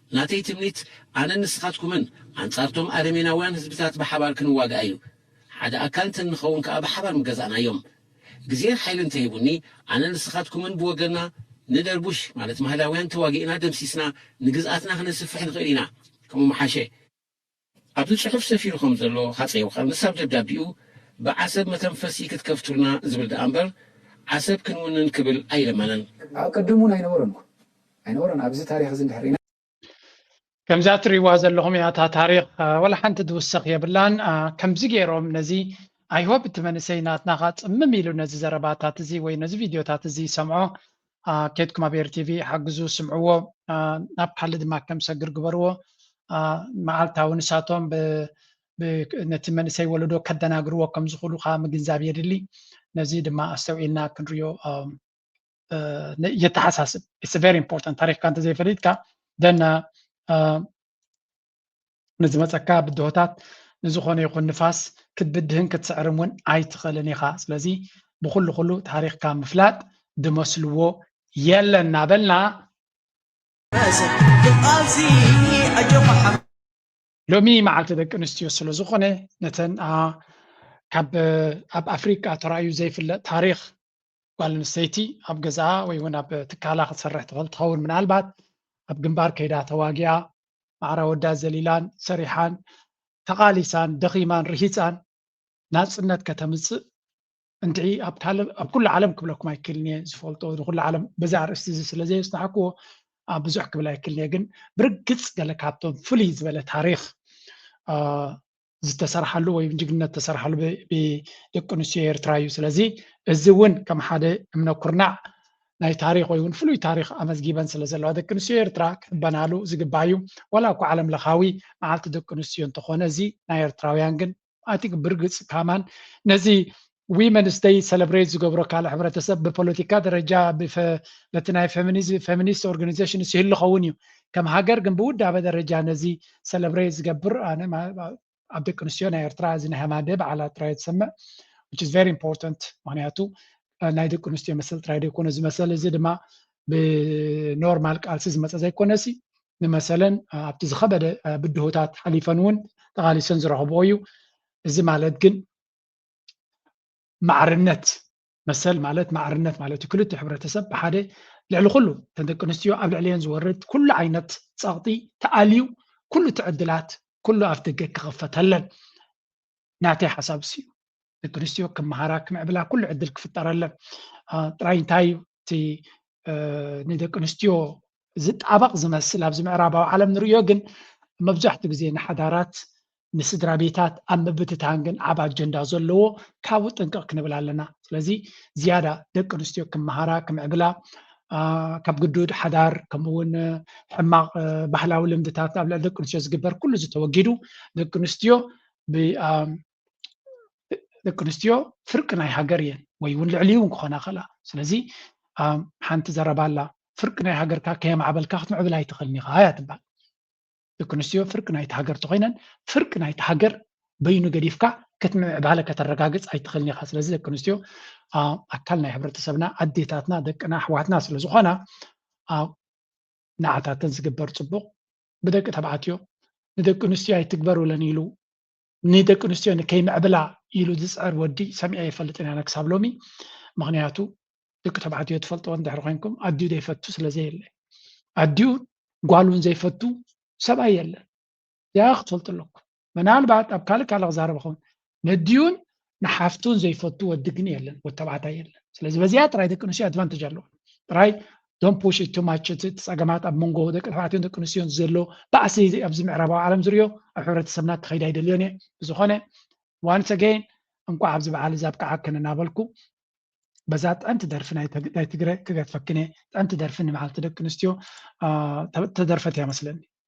ናተይ ትምኒት ኣነን ንስኻትኩምን ኣንጻርቶም ኣረሜናውያን ህዝብታት ብሓባር ክንዋጋእ እዩ። ሓደ ኣካል እንተ እንኸውን ከኣ ብሓባር ምገዛእናዮም። ግዜን ሓይልን እንተሂቡኒ ኣነን ንስኻትኩምን ብወገንና ንደርቡሽ ማለት ማህላውያን ተዋጊእና ደምሲስና ንግዝኣትና ክነስፍሕ ንኽእል ኢና። ከምኡ ምሓሸ። ኣብዚ ጽሑፍ ሰፊሩ ከም ዘሎ ሃጸይ ዮውሃንስ ኣብ ደብዳቤኡ ብዓሰብ መተንፈሲ ክትከፍቱልና ዝብል ደኣ እምበር ዓሰብ ክንውንን ክብል ኣይለመነን። ኣቀድም እውን ኣይነበሮን እኮ ኣይነበሮን ኣብዚ ታሪኽ እዚ እንድሕር ሪኢና። ከምዛ ትሪእዋ ዘለኹም እያ እታ ታሪኽ ወላ ሓንቲ ዝውሰኽ የብላን ከምዚ ጌሮም ነዚ i hope እቲ መንእሰይ ናትና ከኣ ጽምም ኢሉ ነዚ ዘረባታት እዚ ወይ ነዚ ቪድዮታት እዚ ይሰምዖ ኬድኩም ኣብ ኤሪ ቲቪ ሓግዙ ስምዕዎ ናብ ካሊ ድማ ከም ሰግር ግበርዎ መዓልታዊ ንሳቶም ነቲ መንእሰይ ወለዶ ከደናግርዎ ከም ዝኽእሉ ከዓ ምግንዛብ የድሊ ነዚ ድማ ኣስተውዒልና ክንሪኦ የተሓሳስብ ኢትስ ቨሪ ኢምፖርታንት ታሪክካ እንተዘይፈሊጥካ ደና ንዝመጸካ ብድሆታት ንዝኾነ ይኹን ንፋስ ክትብድህን ክትስዕርም እውን ኣይትኽእልን ኢኻ። ስለዚ ብኹሉ ኩሉ ታሪኽካ ምፍላጥ ድመስልዎ የለን እናበልና ሎሚ መዓልቲ ደቂ ኣንስትዮ ስለ ዝኾነ ነተን ካብ ኣብ ኣፍሪቃ ተራእዩ ዘይፍለጥ ታሪኽ ጓል ኣንስተይቲ ኣብ ገዛኣ ወይ እውን ኣብ ትካላ ክትሰርሕ ትኽእል ትኸውን ምናልባት ኣብ ግንባር ከይዳ ተዋጊኣ ማዕራ ወዳ ዘሊላን ሰሪሓን ተቓሊሳን ደኺማን ርሂፃን ናፅነት ከተምፅእ እንትዒ ኣብ ካልእ ኣብ ኩሉ ዓለም ክብለኩም ኣይክእልን እየ ዝፈልጦ ንኩሉ ዓለም በዚ ኣርእስቲ እዚ ስለ ዘየፅናሕክዎ ኣብ ብዙሕ ክብል ኣይክእልን እየ ግን ብርግፅ ገለ ካብቶም ፍልይ ዝበለ ታሪክ ዝተሰርሓሉ ወይ ጅግንነት ዝተሰርሓሉ ብደቂ ኣንስትዮ ኤርትራ እዩ። ስለዚ እዚ እውን ከም ሓደ እምነ ኩርናዕ ናይ ታሪክ ወይ እውን ፍሉይ ታሪክ ኣመዝጊበን ስለ ዘለዋ ደቂ ኣንስትዮ ኤርትራ ክሕበናሉ ዝግባእ እዩ። ዋላ እኳ ዓለም ለኻዊ መዓልቲ ደቂ ኣንስትዮ እንተኾነ እዚ ናይ ኤርትራውያን ግን ኣቲ ብርግፅ ካማን ነዚ ዊ መንስተይ ሰለብሬት ዝገብሮ ካልእ ሕብረተሰብ ብፖለቲካ ደረጃ በቲ ናይ ፌሚኒስት ኦርጋኒዜሽንስ ይህሉ ኸውን እዩ ከም ሃገር ግን ብውዳበ ደረጃ ነዚ ሰለብሬት ዝገብር ኣነ ኣብ ደቂ ኣንስትዮ ናይ ኤርትራ እዚ ናይ ሃማደ በዓላት ጥራይ ዝሰምዕ which is very important ምክንያቱ ናይ ደቂ ኣንስትዮ መሰል ጥራይ ዘይኮነ እዚ መሰል እዚ ድማ ብኖርማል ቃልሲ ዝመፀ ዘይኮነ ሲ ንመሰለን ኣብቲ ዝኸበደ ብድሆታት ሓሊፈን እውን ተቓሊሰን ዝረኸብኦ እዩ እዚ ማለት ግን ማዕርነት መሰል ማለት ማዕርነት ማለት እዩ ክልቲኡ ሕብረተሰብ ብሓደ ልዕሊ ኩሉ እተን ደቂ ኣንስትዮ ኣብ ልዕሊአን ዝወርድ ኩሉ ዓይነት ፀቕጢ ተኣልዩ ኩሉ እቲ ዕድላት ኩሉ ኣፍ ደገ ክኽፈተለን ናተይ ሓሳብ እሱ እዩ ደቂ ኣንስትዮ ክመሃራ ክምዕብላ ኩሉ ዕድል ክፍጠረለን ጥራይ እንታይ እዩ እቲ ንደቂ ኣንስትዮ ዝጣበቕ ዝመስል ኣብዚ ምዕራባዊ ዓለም ንርእዮ ግን መብዛሕቱ ግዜ ንሓዳራት ንስድራ ቤታት ኣብ ምብትታን ግን ዓቢ ኣጀንዳ ዘለዎ ካብኡ ጥንቅቕ ክንብል ኣለና ስለዚ ዝያዳ ደቂ ኣንስትዮ ክመሃራ ክምዕብላ ካብ ግዱድ ሓዳር ከምኡ እውን ሕማቕ ባህላዊ ልምድታት ኣብ ልዕሊ ደቂ ኣንስትዮ ዝግበር ኩሉ ዝተወጊዱ ደቂ ኣንስትዮ ደቂ ኣንስትዮ ፍርቂ ናይ ሃገር እየን ወይ እውን ልዕሊ እውን ክኾና ይኽእላ ስለዚ ሓንቲ ዘረባ ኣላ ፍርቂ ናይ ሃገርካ ከየማዕበልካ ክትምዕብል ኣይትኽእልን ኢኻ እያ ትበሃል ደቂ ኣንስትዮ ፍርቂ ናይቲ ሃገር እንተኮይነን ፍርቂ ናይቲ ሃገር በይኑ ገዲፍካ ክትምዕባለ ከተረጋግፅ ኣይትኽእልን ኢኻ ስለዚ ደቂ ኣንስትዮ ኣካል ናይ ሕብረተሰብና ኣዴታትና ደቅና ኣሕዋትና ስለ ዝኾና ንዓታተን ዝግበር ፅቡቕ ብደቂ ተባዕትዮ ንደቂ ኣንስትዮ ኣይትግበሩለን ኢሉ ንደቂ ኣንስትዮ ንከይምዕብላ ኢሉ ዝፅዕር ወዲ ሰሚዐ ኣይፈልጥን ኣነ ክሳብ ሎሚ ምክንያቱ ደቂ ተባዕትዮ ትፈልጥዎ እንድሕር ኮይንኩም ኣዲኡ ዘይፈቱ ስለዘየለ ኣዲኡ ጓል እውን ዘይፈቱ ሰብኣይ የለን እዚኣ ክትፈልጡ ኣለኩም ምናልባት ኣብ ካልእ ካልእ ክዛረብ ኸውን ነዲኡን ንሓፍቱን ዘይፈቱ ወዲ ግን የለን ወዲ ተባዕታይ የለን ስለዚ በዚኣ ጥራይ ደቂ ኣንስትዮ ኣድቫንቴጅ ኣለዎ ጥራይ ዶን ፑሽ ቱማች እቲ ፀገማት ኣብ መንጎ ደቂ ተባዕትዮን ደቂ ኣንስትዮን ዘሎ ባእሲ ኣብዚ ምዕራባዊ ዓለም ዝርዮ ኣብ ሕብረተሰብና ክኸይድ ኣይደልዮን እየ ብዝኾነ ዋንስ ኣገይን እንኳዕ ኣብዚ በዓል እዚ ኣብቅዓክን እናበልኩ በዛ ጥዕምቲ ደርፊ ናይ ትግረ ክገድፈክን እየ ጥዕምቲ ደርፊ ንመዓልቲ ደቂ ኣንስትዮ ተደርፈት እያ መስለኒ